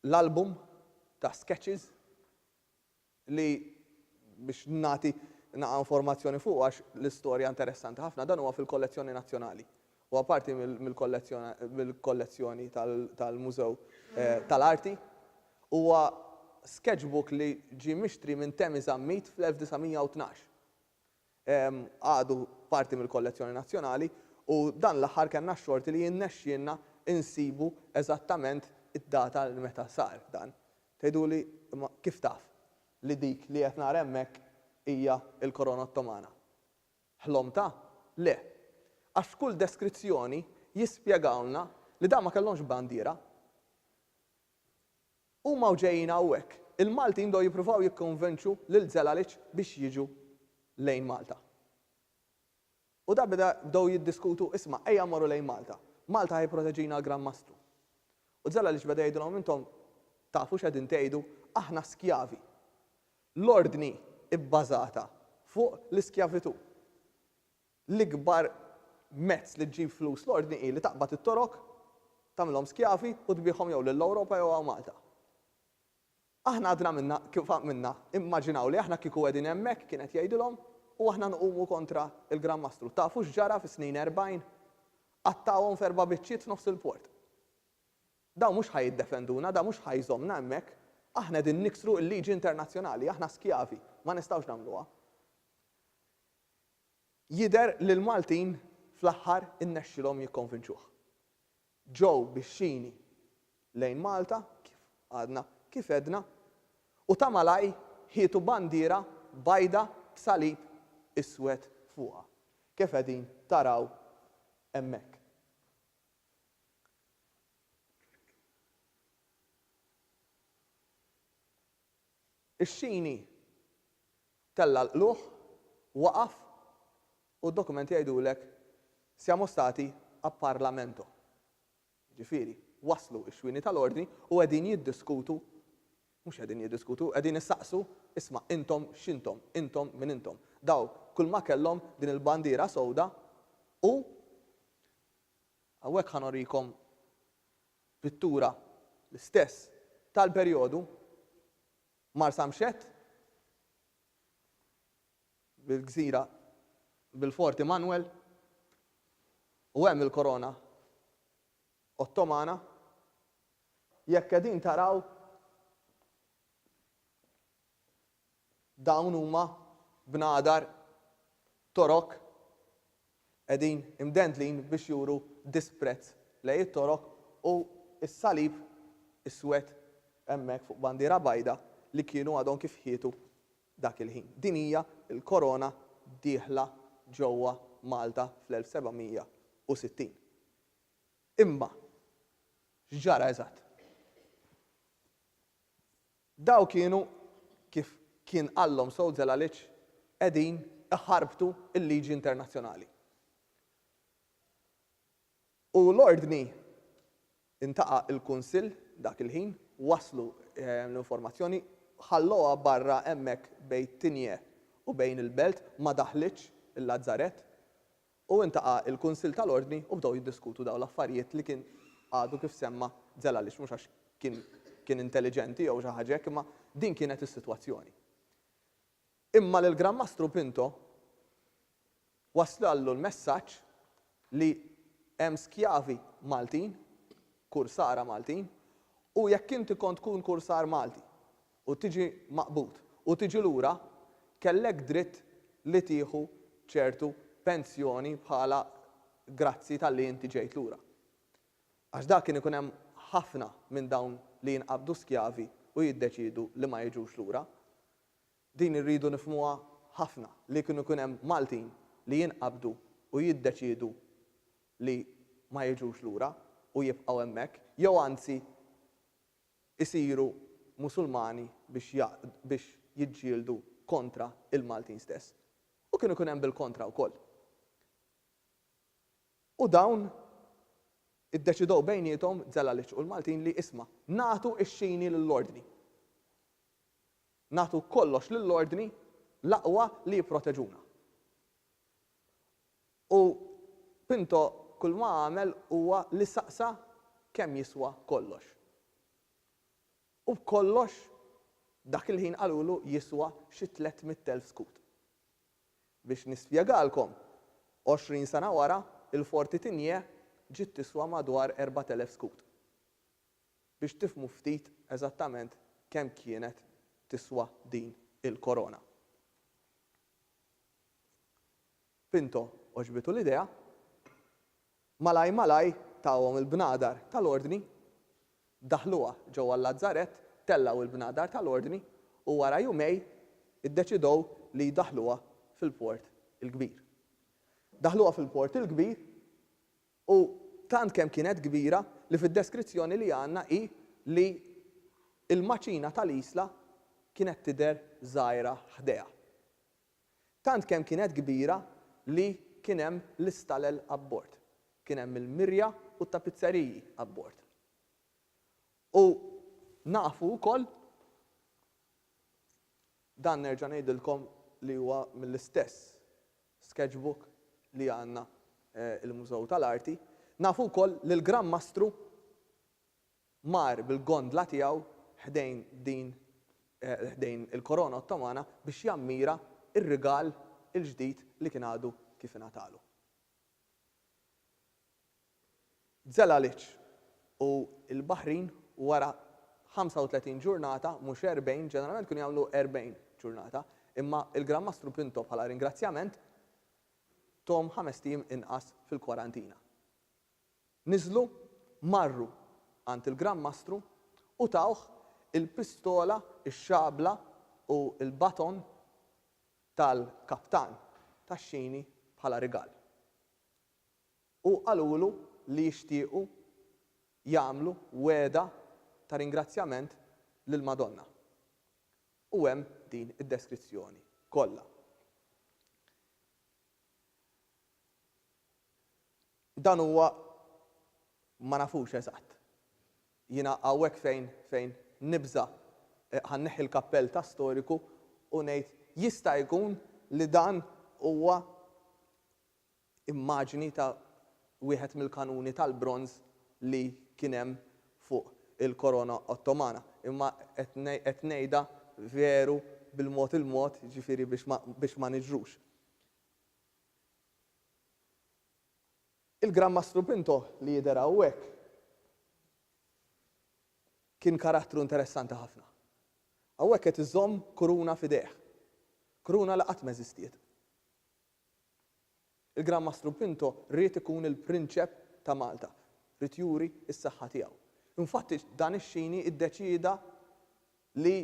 S2: l-album ta' sketches li biex nagħti naqa' informazzjoni fuqu għax l-istorja interessanti ħafna, dan huwa fil-kollezzjoni nazzjonali. Huwa parti mill-kollezzjoni tal-Mużew tal-Arti. Huwa sketchbook li ġie mixtri minn Temi Zammit fl-1912. għadu parti mill-kollezzjoni nazzjonali u dan l-aħħar kellna x-xorti li rnexxielna nsibu eżattament id-data li meta sar dan. Tgħiduli, imma kif taf li dik li qed nara hemmhekk hija l-Korona Ottomana? Ħlomtha? Le. Għax f'kull deskrizzjoni jispjegawlna li dawn ma kellhomx bandiera. Huma u ġejjin hawnhekk. Il-Maltin bdew jippruvaw jikkonvenċu lil Zelalic biex jiġu lejn Malta. U da beda bdew jiddiskutu, isma' ejja mmorru lejn Malta. Malta ħa jipproteġina l-Gran Mastru. U Zelalic beda jgħidilhom intom tafu x'qegħdin tgħidu, aħna skjavi. L-Ordni bbażata fuq l-iskjavitù. L-ikbar mezz li ġġib flus l-Ordni hi li taqbad it-Torok, tagħmilhom skjavi u tbiegħhom jew lill-Ewropa jew hawn Malta. Aħna għadna minnha kif għamilna, immaġinaw li aħna kieku qegħdin hemmhekk, kien qed jgħidilhom, u aħna nqumu kontra l-Gran Mastru. Tafu x'ġara fis-snin erbgħin? Qattgħuhom f'erba' biċċiet f'nofs il-port. Dawn mhux ħa jiddefenduna, dan mhux ħa jżommna hemmhekk. Aħna qegħdin niksru l-liġi internazzjonali, aħna skjavi, ma nistgħux nagħmluha. Jidher li l-Maltin fl-aħħar innexxilhom jikkonvinċuh. Ġew bix-xini lejn Malta, kif għadna kif għedna, u ta' malajr ħietu bandiera bajda b'salib iswed fuqha, kif qegħdin taraw hemmhekk. Ix-xini tella' l-qlugħ, waqaf u d-dokumenti jgħidulek siamo stati a Parlamento. Jiġifieri, waslu x-xwieni tal-Ordni u qegħdin jiddiskutu, mhux qegħdin jiddiskutu, qegħdin isaqsu, isma' intom x'intom, intom min intom. Daw kulma kellhom din il-bandiera sewda u hawnhekk ħa norikom Pittura l-istess tal-perjodu, Marsa Mxett, bil-gżira, bil-Fort Immanuel, u hemm il-korona Ottomana. Jekk qegħdin taraw, Dawn huma bnadar Torok qegħdin imdendlin biex juru disprezz lejn it-Torok u s-salib iswed hemmhekk fuq bandiera bajda li kienu għadhom kif ħietu dak il-ħin. Din hija l-korona dieħla ġewwa Malta fl-1760. Imma x'ġara eżatt? Daw kienu, kif kien qallhom Saul Zelalic, qegħdin iħarbtu l-liġi internazzjonali. U l-ordni, intaqa' l-Kunsill dak il-ħin, wasslu l-informazzjoni, ħallowha barra hemmhekk bejn Tigné u bejn il-belt, ma daħlitx il-Lazzarett, U intaqa' l-Kunsill tal-Ordni u bdew jiddiskutu dawn l-affarijiet li kien għadu kif semma' Zelalic, mhux għax kien kien intelliġenti jew xi ħaġa hekk imma din kienet is-sitwazzjoni. Imma lill-Gran Mastru Pinto wasllu l-messaġġ li hemm skjavi Maltin, kursara Maltin, u jekk inti kont tkun kursar Malti u tiġi maqbud u tiġi lura kellek dritt li tieħu ċertu pensjoni bħala grazzi talli inti ġejt lura. Għax dak kien ikun hemm ħafna minn dawn li jinqabdu skjavi u jiddeċiedu li ma jiġux lura. Din irridu nifhmuha ħafna li kienu jkun hemm Maltin li jinqabdu u jiddeċiedu li ma jiġux lura u jibqgħu hemmhekk jew anzi isiru Musulmani biex biex jiġġieldu kontra il-Maltin stess. U kien ikun hemm bil-kontra wkoll. U dawn iddeċidew bejniethom, Zelaliċ u l-Maltin, li isma', nagħtu x-xini lill-Ordni. Nagħtu kollox lill-Ordni, l-aqwa li jipproteġuna. U Pinto kulma għamel huwa li saqsa kemm jiswa kollox. U kollox dak il-ħin qalulu jiswa xi tliet mitt elf skud. Biex nispjegalkom, għoxrin sena wara, il-Ford Titinje ġiet tiswa madwar erbat elef skud. Biex tifhmu ftit eżattament kemm kienet tiswa din il-korona. Pinto għoġbitu l-idea. Malaj malaj tahom il-bnadar tal-Ordni. Daħluha ġewwa l-Lazzarett, tellgħu l-bnadar tal-Ordni u wara jumej iddeċidew li jdaħħluha fil-Port il-Kbir. Daħħluha fil-Port il-Kbir u tant kemm kienet kbira li fid-deskrizzjoni li għandna hi li l-maċina tal-Isla kienet tidher żgħira ħdejha. Tant kemm kienet kbira li kien hemm l-istalel abbord. Kien hemm il-mirja u t-tapizzeriji abbord. U nafu wkoll, dan nerġa' ngħidilkom li huwa mill-istess sketchbook li għandna l-Mużew tal-Arti, nafu wkoll li l-Gran Mastru, mar bil-gondla tiegħu ħdejn din ħdejn il-Korona Ottomana biex jammira r-rigal il-ġdid li kien għadu kif ingħatalu. Zelalic u l-Baħrin wara 35 ġurnata, mhux 40, ġeneralment kienu jagħmlu 40 ġurnata, imma l-Gran Mastru Pinto bħala ringrazzjament, thom ħamest ijiem inqas fil-kwarantina. Niżlu, marru għand il-Gran Mastru u tawh il-pistola, ix-xabla u l-baton tal-kaptan tax-xini bħala rigal. U qalulu li jixtiequ jagħmlu wegħda ta' ringrazzjament lill-Madonna. U hemm din id-deskrizzjoni kollha. Dan huwa ma nafux eżatt. Jiena hawnhekk fejn fejn nibża' ħa nneħħi l-kappell ta' storiku u ngħid jista' jkun li dan huwa immaġni ta' wieħed mill-kanuni tal-bronż li kien hemm fuq il-korona Ottomana. Imma qed qed ngħidha veru bil-mod il-mod, jiġifieri biex ma biex ma niġrux. Il-Gran Mastru Pinto li jidher hawnhekk kien karattru interessanti ħafna. Hawnhekk qed iżomm kuruna f'idejh. Kuruna li qatt m'eżistiet. Il-Gran Mastru Pinto ried ikun il-Prinċep ta' Malta. Ried juri s-saħħa tiegħu. Infatti dan ix-Xini iddeċieda li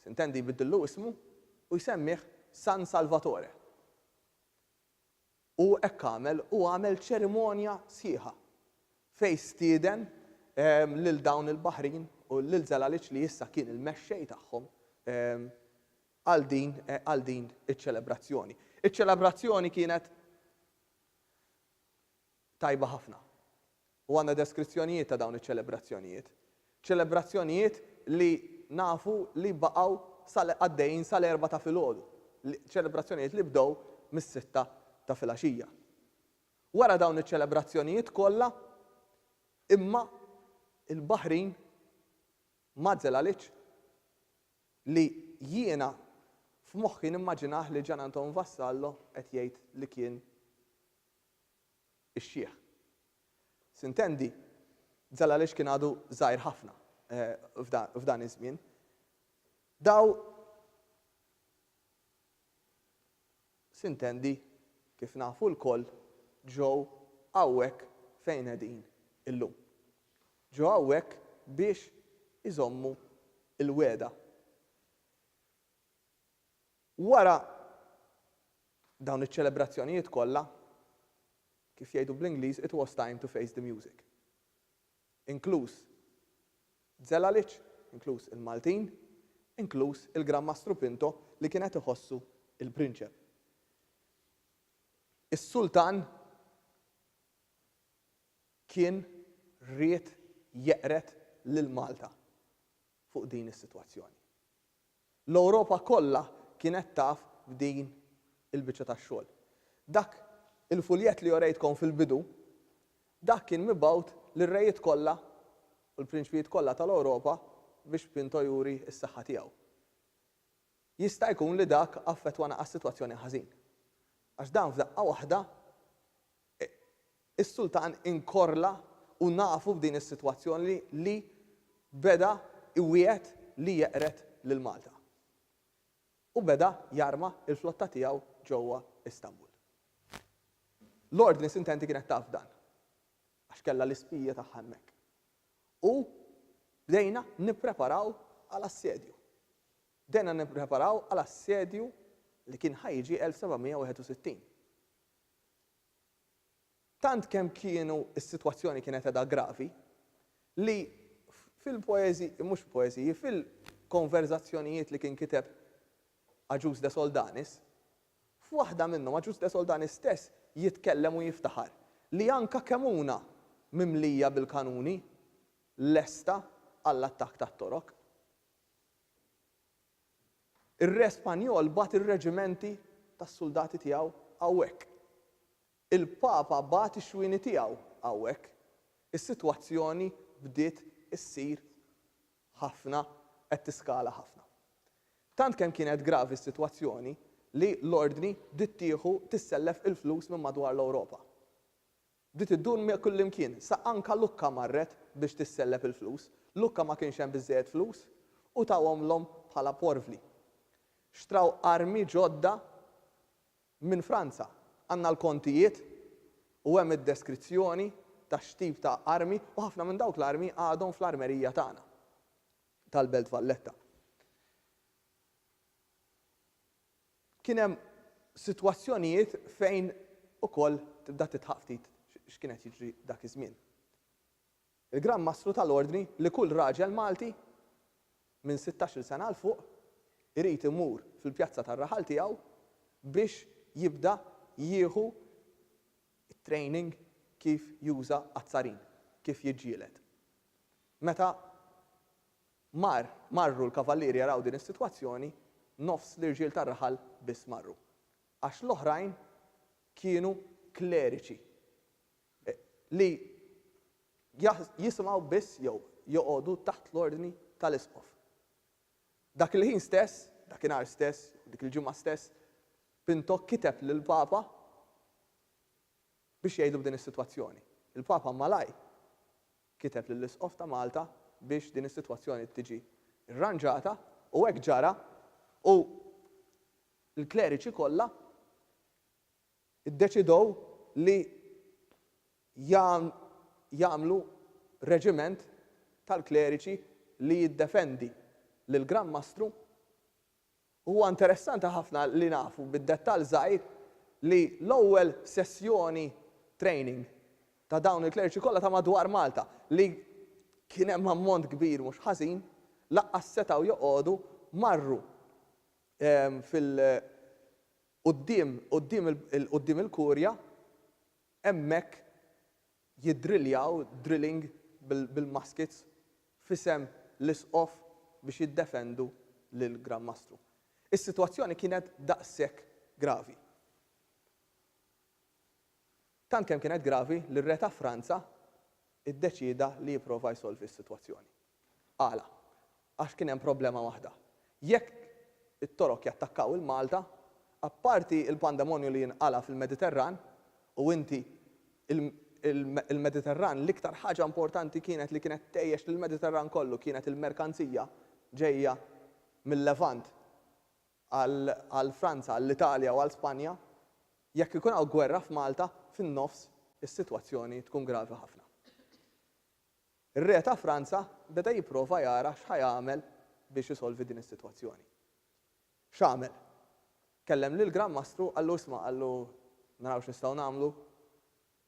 S2: s'intendi jbiddillu ismu u jsemmih San Salvatore. U hekk għamel u għamel ċerimonja sħiħa fejn stieden lil dawn il-baħrin u lil Zelaliċ li issa kien il-mexxej tagħhom għal din għal din iċ-ċelebrazzjoni. Iċ-ċelebrazzjoni kienet tajba ħafna. u għandna deskrizzjonijiet ta' dawn iċ-ċelebrazzjonijiet. Ċelebrazzjonijiet li nafu li baqgħu sal għaddejjin sal-erbgħa ta' filgħodu, ċelebrazzjonijiet li bdew mis-sitta ta' filgħaxija. Wara dawn iċ-ċelebrazzjonijiet kollha imma il-Baħrin ma żelalitx li jiena f'moħħi nimmaġinah lil Gian Anton Vassallo qed jgħid li kien ix-xiħ. Sintendi? Zalalex kien għadu żgħir ħafna f'dan iż-żmien. Daw Sintendi? Kif nafu lkoll, ġew hawnhekk fejn qegħdin illum. Ġew hawnhekk biex iżommu l-wegħda. Wara dawn iċ-ċelebrazzjonijiet kollha, kif jgħidu bl-Ingliż, it was time to face the music. Inkluż Zelalic, inkluż il-Maltin, inkluż il-Gran Mastru Pinto li kien qed iħossu l-prinċep. Is-Sultan kien ried jeqred lil Malta fuq din is-sitwazzjoni. L-Ewropa kollha kienet taf b'din il-biċċa tax-xogħol. Dak il-fuljett li orejtkom fil-bidu, dak kien mibgħut lir-rejiet kollha u l-prinċpijiet kollha tal-Ewropa biex Pinto juri s-saħħa tiegħu. Jista' jkun li dak affettwana għas-sitwazzjoni ħażin. Għax dan f'daqqa waħda Is-sultan inkorla u nafu f'din is-sitwazzjoni li beda jwiegħed li jeqred lil Malta. U beda jarma l-flotta tiegħu ġewwa Istanbul. L-Ordni Sintenti kienet taf b'dan għax kellha l-ispija tagħha hemmhekk. U bdejna nippreparaw għal assedju. Bdejna nippreparaw għal assedju li kien ħa jiġi 1761. Tant kemm kienu s-sitwazzjoni kienet qegħda gravi, li fil-poeżi, mhux fil-poeżiji, fil-konverżazzjonijiet li kien kiteb Agius de Soldanis, f'waħda minnhom Agius de Soldanis stess jitkellem u jiftaħar li anka Kemuna mimlija bil-kanuni lesta għall-attakk tat-Torok. Ir-Re Spanjol bagħat ir-reġimenti tas-suldati tiegħu hawnhekk. Il-Papa bagħat ix-xwieni tiegħu hawnhekk. Is-sitwazzjoni bdiet issir ħafna qed tiskala ħafna. Tant kemm kienet gravi s-sitwazzjoni li l-Ordni bdiet tieħu tissellef il-flus minn madwar l-Ewropa. Bdiet iddur miegħi kullimkien, sa anke Lukka marret biex tissellef il-flus. Lukka ma kienx hemm biżżejjed flus u tahomlhom bħala porvli. Xtraw armi ġodda minn Franza. Għandna l-kontijiet u hemm id-deskrizzjoni ta' x'tip ta' armi u ħafna minn dawk l-armi għadhom fl-armerija tagħna tal-Belt Valletta. Kien hemm sitwazzjonijiet fejn ukoll tibda tidħaq ftit x'kien qed jiġri dak iż-żmien. Il-Gran Mastru ta l-Ordni li kull raġel Malti minn sittax-il sena 'l fuq irid imur fil-pjazza tar-raħal tiegħu biex jibda jieħu t-training kif juża azzarin, kif jiġġieled. Meta Mar, marru l-kavallieri jaraw din is-sitwazzjoni, nofs l-irġiel tar-raħal biss marru. Għax l-oħrajn kienu kleriċi li jisimgħu biss jew joqogħdu taħt l-ordni tal-isqof. Dak il-ħin stess, dakinhar stess, jew dik il-ġimgħa stess, Pinto kiteb lill-Papa biex jgħidlu b'din is-sitwazzjoni. Il-Papa malajr kiteb lill-Isqof ta' Malta biex din is-sitwazzjoni tiġi rranġata u hekk ġara u l-kleriċi kollha ddeċidew li jagħmlu reġiment tal-kleriċi li jiddefendi lill-Gran Mastru Huwa interessanti ħafna li nafu bid-dettall żgħir li l-ewwel sessjoni training ta' dawn il-kleriċi kollha ta' madwar Malta, li kien hemm ammont kbir mhux ħażin, lanqas setgħu joqogħdu, marru fil quddiem quddiem il-Kurja hemmhekk jiddriljaw drilling bil-muskets f'isem l-Isqof biex jiddefendu lill-Gran Mastru. Is-sitwazzjoni kienet daqshekk gravi. Tant kemm kienet gravi li r-Re ta' Franza ddeċieda li jipprova jsolvi s-sitwazzjoni. Għala? Għax kien hemm problema waħda. Jekk it-Torok jattakkaw il-Malta, apparti l-pandemonju li jinqala' fil-Mediterran, u inti, il-Mediterran, l-iktar ħaġa importanti kienet li kienet tgħejjex lill-Mediterran kollu kienet il-merkanzija ġejja mil-Levant għal Franza, għall-Italja u għal Spanja. Jekk ikun hawn gwerra f'Malta, fin-nofs is-sitwazzjoni tkun gravi ħafna. Ir-Re ta' Franza beda jipprova jara x'ħa jagħmel biex isolvi din is-sitwazzjoni. X'għamel? Kellem lill-Gran Mastru qallu isma' qallu naraw x'nistgħu nagħmlu,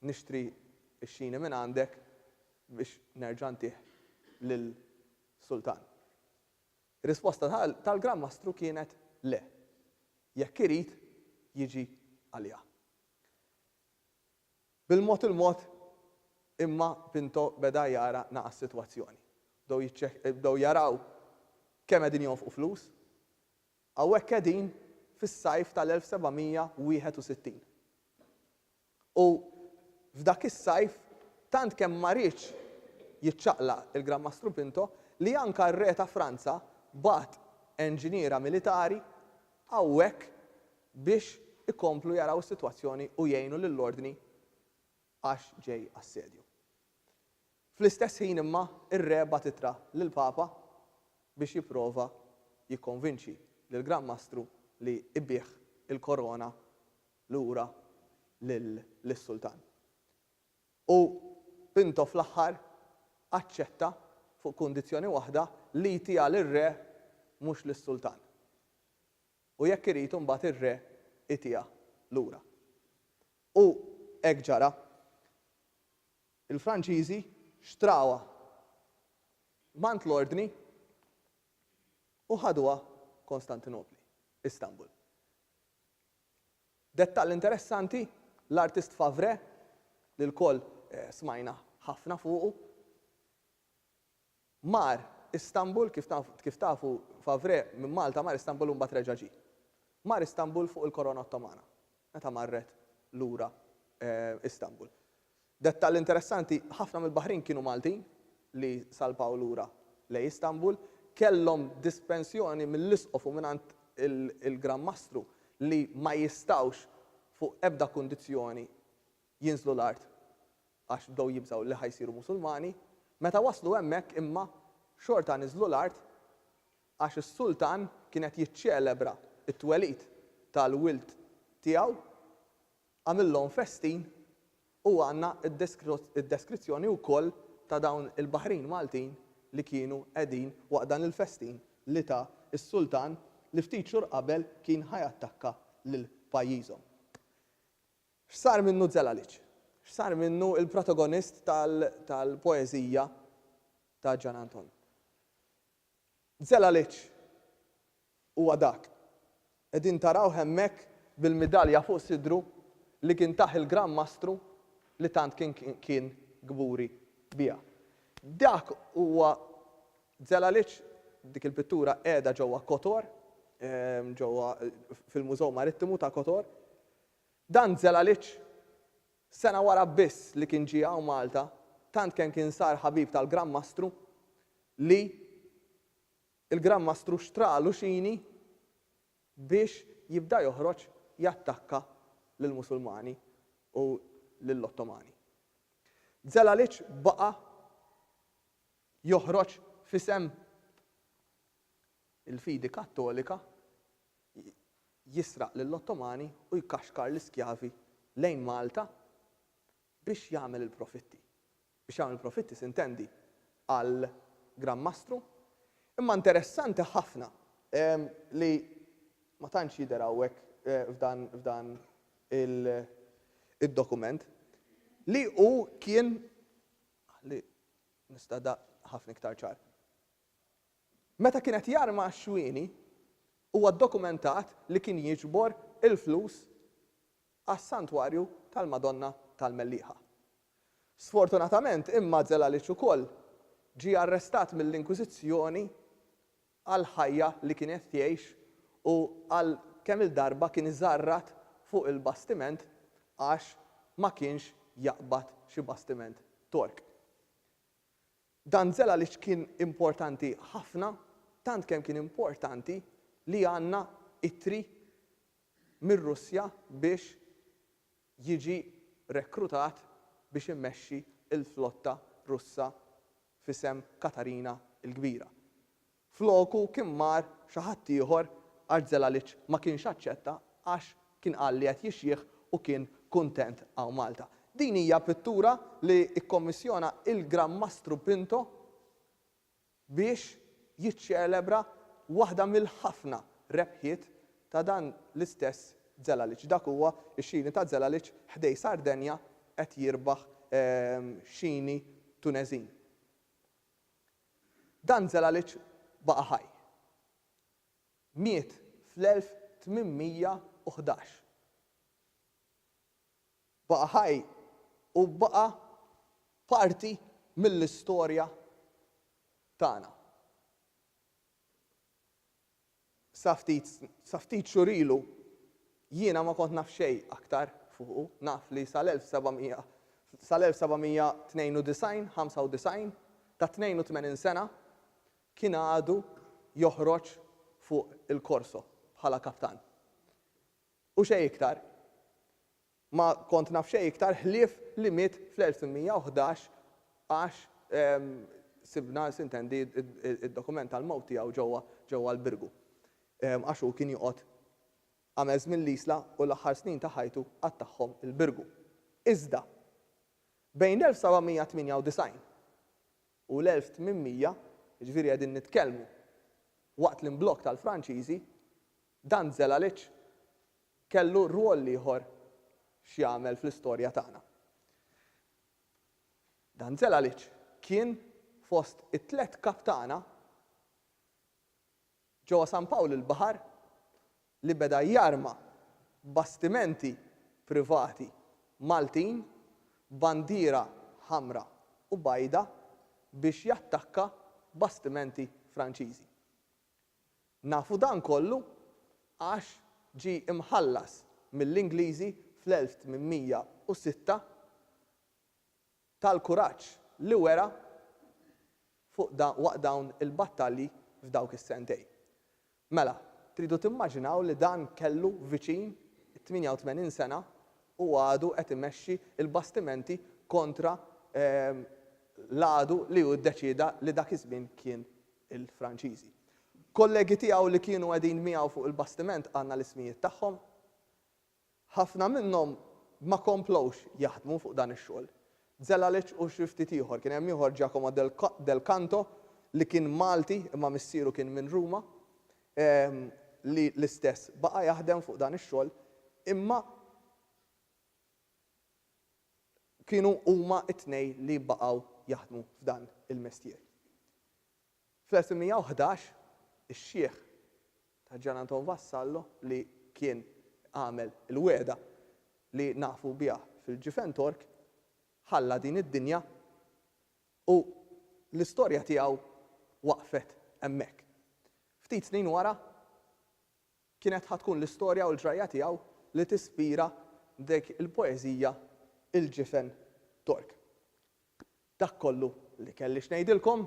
S2: nixtri x-xini minn għandek biex nerġa' ntih lill-Sultan. Ir-risposta tal-Gran Mastru kienet le, jekk irid jiġi għalija. Bil-mod il-mod imma Pinto beda jara naqas s-sitwazzjoni. Bdew jaraw kemm qegħdin jonfqu flus. Hawnhekk qegħdin fis-sajf tal-1761. U f'dak is-sajf tant kemm ma riedx jiċċaqlaq il-Gran Mastru Pinto li anke r-Re ta' Franza bagħat enġiniera militari hawnhekk biex ikomplu jaraw is-sitwazzjoni u jgħinu lill-ordni għax ġej assedju. Fl-istess ħin imma ir-Re bagħat ittra lill-Papa biex jipprova jikkonvinċi lill-Gran Mastru li jbigħ il-korona lura lis-Sultan. U Pinto fl-aħħar aċċetta fuq kundizzjoni waħda li jtiha lir-Re mhux lis-Sultan. u jekk irid imbagħad ir-re itiha lura. U hekk ġara. Il-Franċiżi xtrawha mant l-Ordni u ħaduha Kostantinopli, Istanbul. Dettall interessanti, l-artist Favre, li lkoll smajna ħafna fuqu, Mar Istanbul, kif taf, kif tafu, Favre minn Malta mar Istanbul u mbagħad reġa' ġie. Mar Istanbul fuq il-Korona Ottomana, meta marret lura Istanbul. Dettall interessanti, ħafna mill-baħrin kienu Maltin li salpaw lura lejn Istanbul, kellhom dispensjoni mill-Isqof u mingħand il-Gran Mastru li ma jistgħux fuq ebda kundizzjoni jinżlu l-art għax bdew jibżgħu li ħa jsiru Musulmani, meta waslu hemmhekk imma xorta niżlu l-art għax is-Sultan kien qed jiċċelebra t-twelid tal-wild tiegħu, għamillhom festin u għandna d-deskrizzjoni wkoll ta' dawn il-baħrin Maltin li kienu qegħdin waqt dan il-festin li ta s-Sultan li ftit xhur qabel kien ħa jattakka lil pajjiżhom. X'sar minnu Zelalic? X'sar minnu l-protagonist tal-poeżija ta' Gian Anton? Zelalic huwa dak, qegħdin tarawh hemmhekk bil-midalja fuq sidru, li kien tah il-Gran Mastru li tant kien kburi biha. Dak huwa Zelalic, dik il-pittura qiegħda ġewwa Kotor, ġewwa fil-Mużew Marittimu ta' Kotor, Dan Zelalich, sena wara biss li kien ġie hawn Malta, tant kemm kien sar ħabib tal-Gran Mastru li l-Gran Mastru xtra Luxini biex jibda joħroġ jattakka lill-Musulmani u lill-Ottomani. Zelalich baqa' joħroġ f'isem il-fidi Kattolika, jisraq lill-Ottomani u jkaxkar l-iskjavi lejn Malta biex jagħmel il-profitti. Biex jagħmel il-profitti sintendi għal Gran Mastru. Imma interessanti ħafna li ma tantx jidher hawnhekk f'dan id-dokument li hu kien, ħalli nista' daqq ħafna iktar ċar, Meta kien qed jarma għax-xwieni, huwa ddokumentat li kien jiġbor il-flus għas-Santwarju tal-Madonna tal-Mellieħa. Sfortunatament imma Zelalic ukoll ġie arrestat mill-Inkwiżizzjoni għall-ħajja li kien qed jgħix u għal kemm-il darba kien iżarrat fuq il-bastiment għax ma kienx jaqbad xi bastiment Tork. Dan żel għaliex kien importanti ħafna, tant kemm kien importanti li għandna ittri mir-Russja biex jiġi rekrutat biex imexxi l-flotta Russa f'isem Katarina l-Kbira. Floku kien mar xi ħadd ieħor għax Zelalich ma kienx aċċetta għax kien qal li qed jixjieħ u kien kuntent hawn Malta. Din hija pittura li kkommissjona il-Gran Mastru Pinto biex jiċċelebra waħda mill-ħafna rebħiet ta' dan l-istess Zelalich. Dak huwa x-xini ta' Zelalich ħdej Sardenja qed jirbaħ xini Tuneżin. Dan Zelalic baqa' ħaj. Miet fl-1811. Baqa' ħaj u baqa' parti mill-istorja tagħna. Sa ftit sa ftit xhur ilu jiena ma kont naf xejn aktar fuqu. Naf li sal-1700 sal-1792, 95, ta' 82 sena, kien għadu joħroġ fuq il-korso bħala kaptan. U xejn iktar. Ma kont naf xejn iktar ħlief li miet fl-1811 għax sibna, sintendi, id-dokument tal-mewt tiegħu ġewwa ġewwa l-Birgu. Għax hu kien joqgħod għamel żmien l-Isla u l-aħħar snin ta' ħajtu qattagħhom il-Birgu. Iżda, bejn l-1798 u l-1800, jiġifieri qegħdin nitkellmu waqt l-imblokk tal-Franċiżi, Dan Zelalic kellu rwol ieħor x'jagħmel fl-istorja tagħna. Dan Zelalic kien fost it-tliet kaptana ġewwa San Pawl il-Baħar li beda jarma bastimenti privati Maltin b'bandiera ħamra u bajda biex jattakka bastimenti Franċiżi. Nafu dan kollu għax ġie mħallas mill-Ingliżi fl-1806 tal-kuraġġ li wera fuq waqt dawn il-battalji f'dawk is-sentejn. Mela, tridu timmaġinaw li dan kellu viċin it-88 sena u għadu qed imexxi l-bastimenti kontra l-għadu li hu ddeċieda li dak iż-żmien kien il-Franċiżi. Kollegi tiegħu li kienu qegħdin miegħu fuq il-bastiment qalna l-ismijiet tagħhom. Ħafna minnhom ma komplewx jaħdmu fuq dan ix-xogħol. Zelalic u xi ftit ieħor. Kien hemm ieħor Giacomo del Canto li kien Malti imma missieru kien minn Ruma li l-istess baqa' jaħdem fuq dan ix-xogħol imma kienu huma t-tnejn li baqgħu jaħdmu f'dan il-mestier. Fl-1811, ix-xiħ ta' Gian Anton Vassallo li kien għamel il-wegħda li nafu biha fil-Ġifentork ħalla din id-dinja u l-istorja tiegħu waqfet hemmhekk. Ftit snin wara, Kienet ħa tkun l-istorja u l-ġrajja tiegħu li tispira dik il-poeżija Il-Ġifen Tork. Dak kollu li kelli x'ngħidilkom.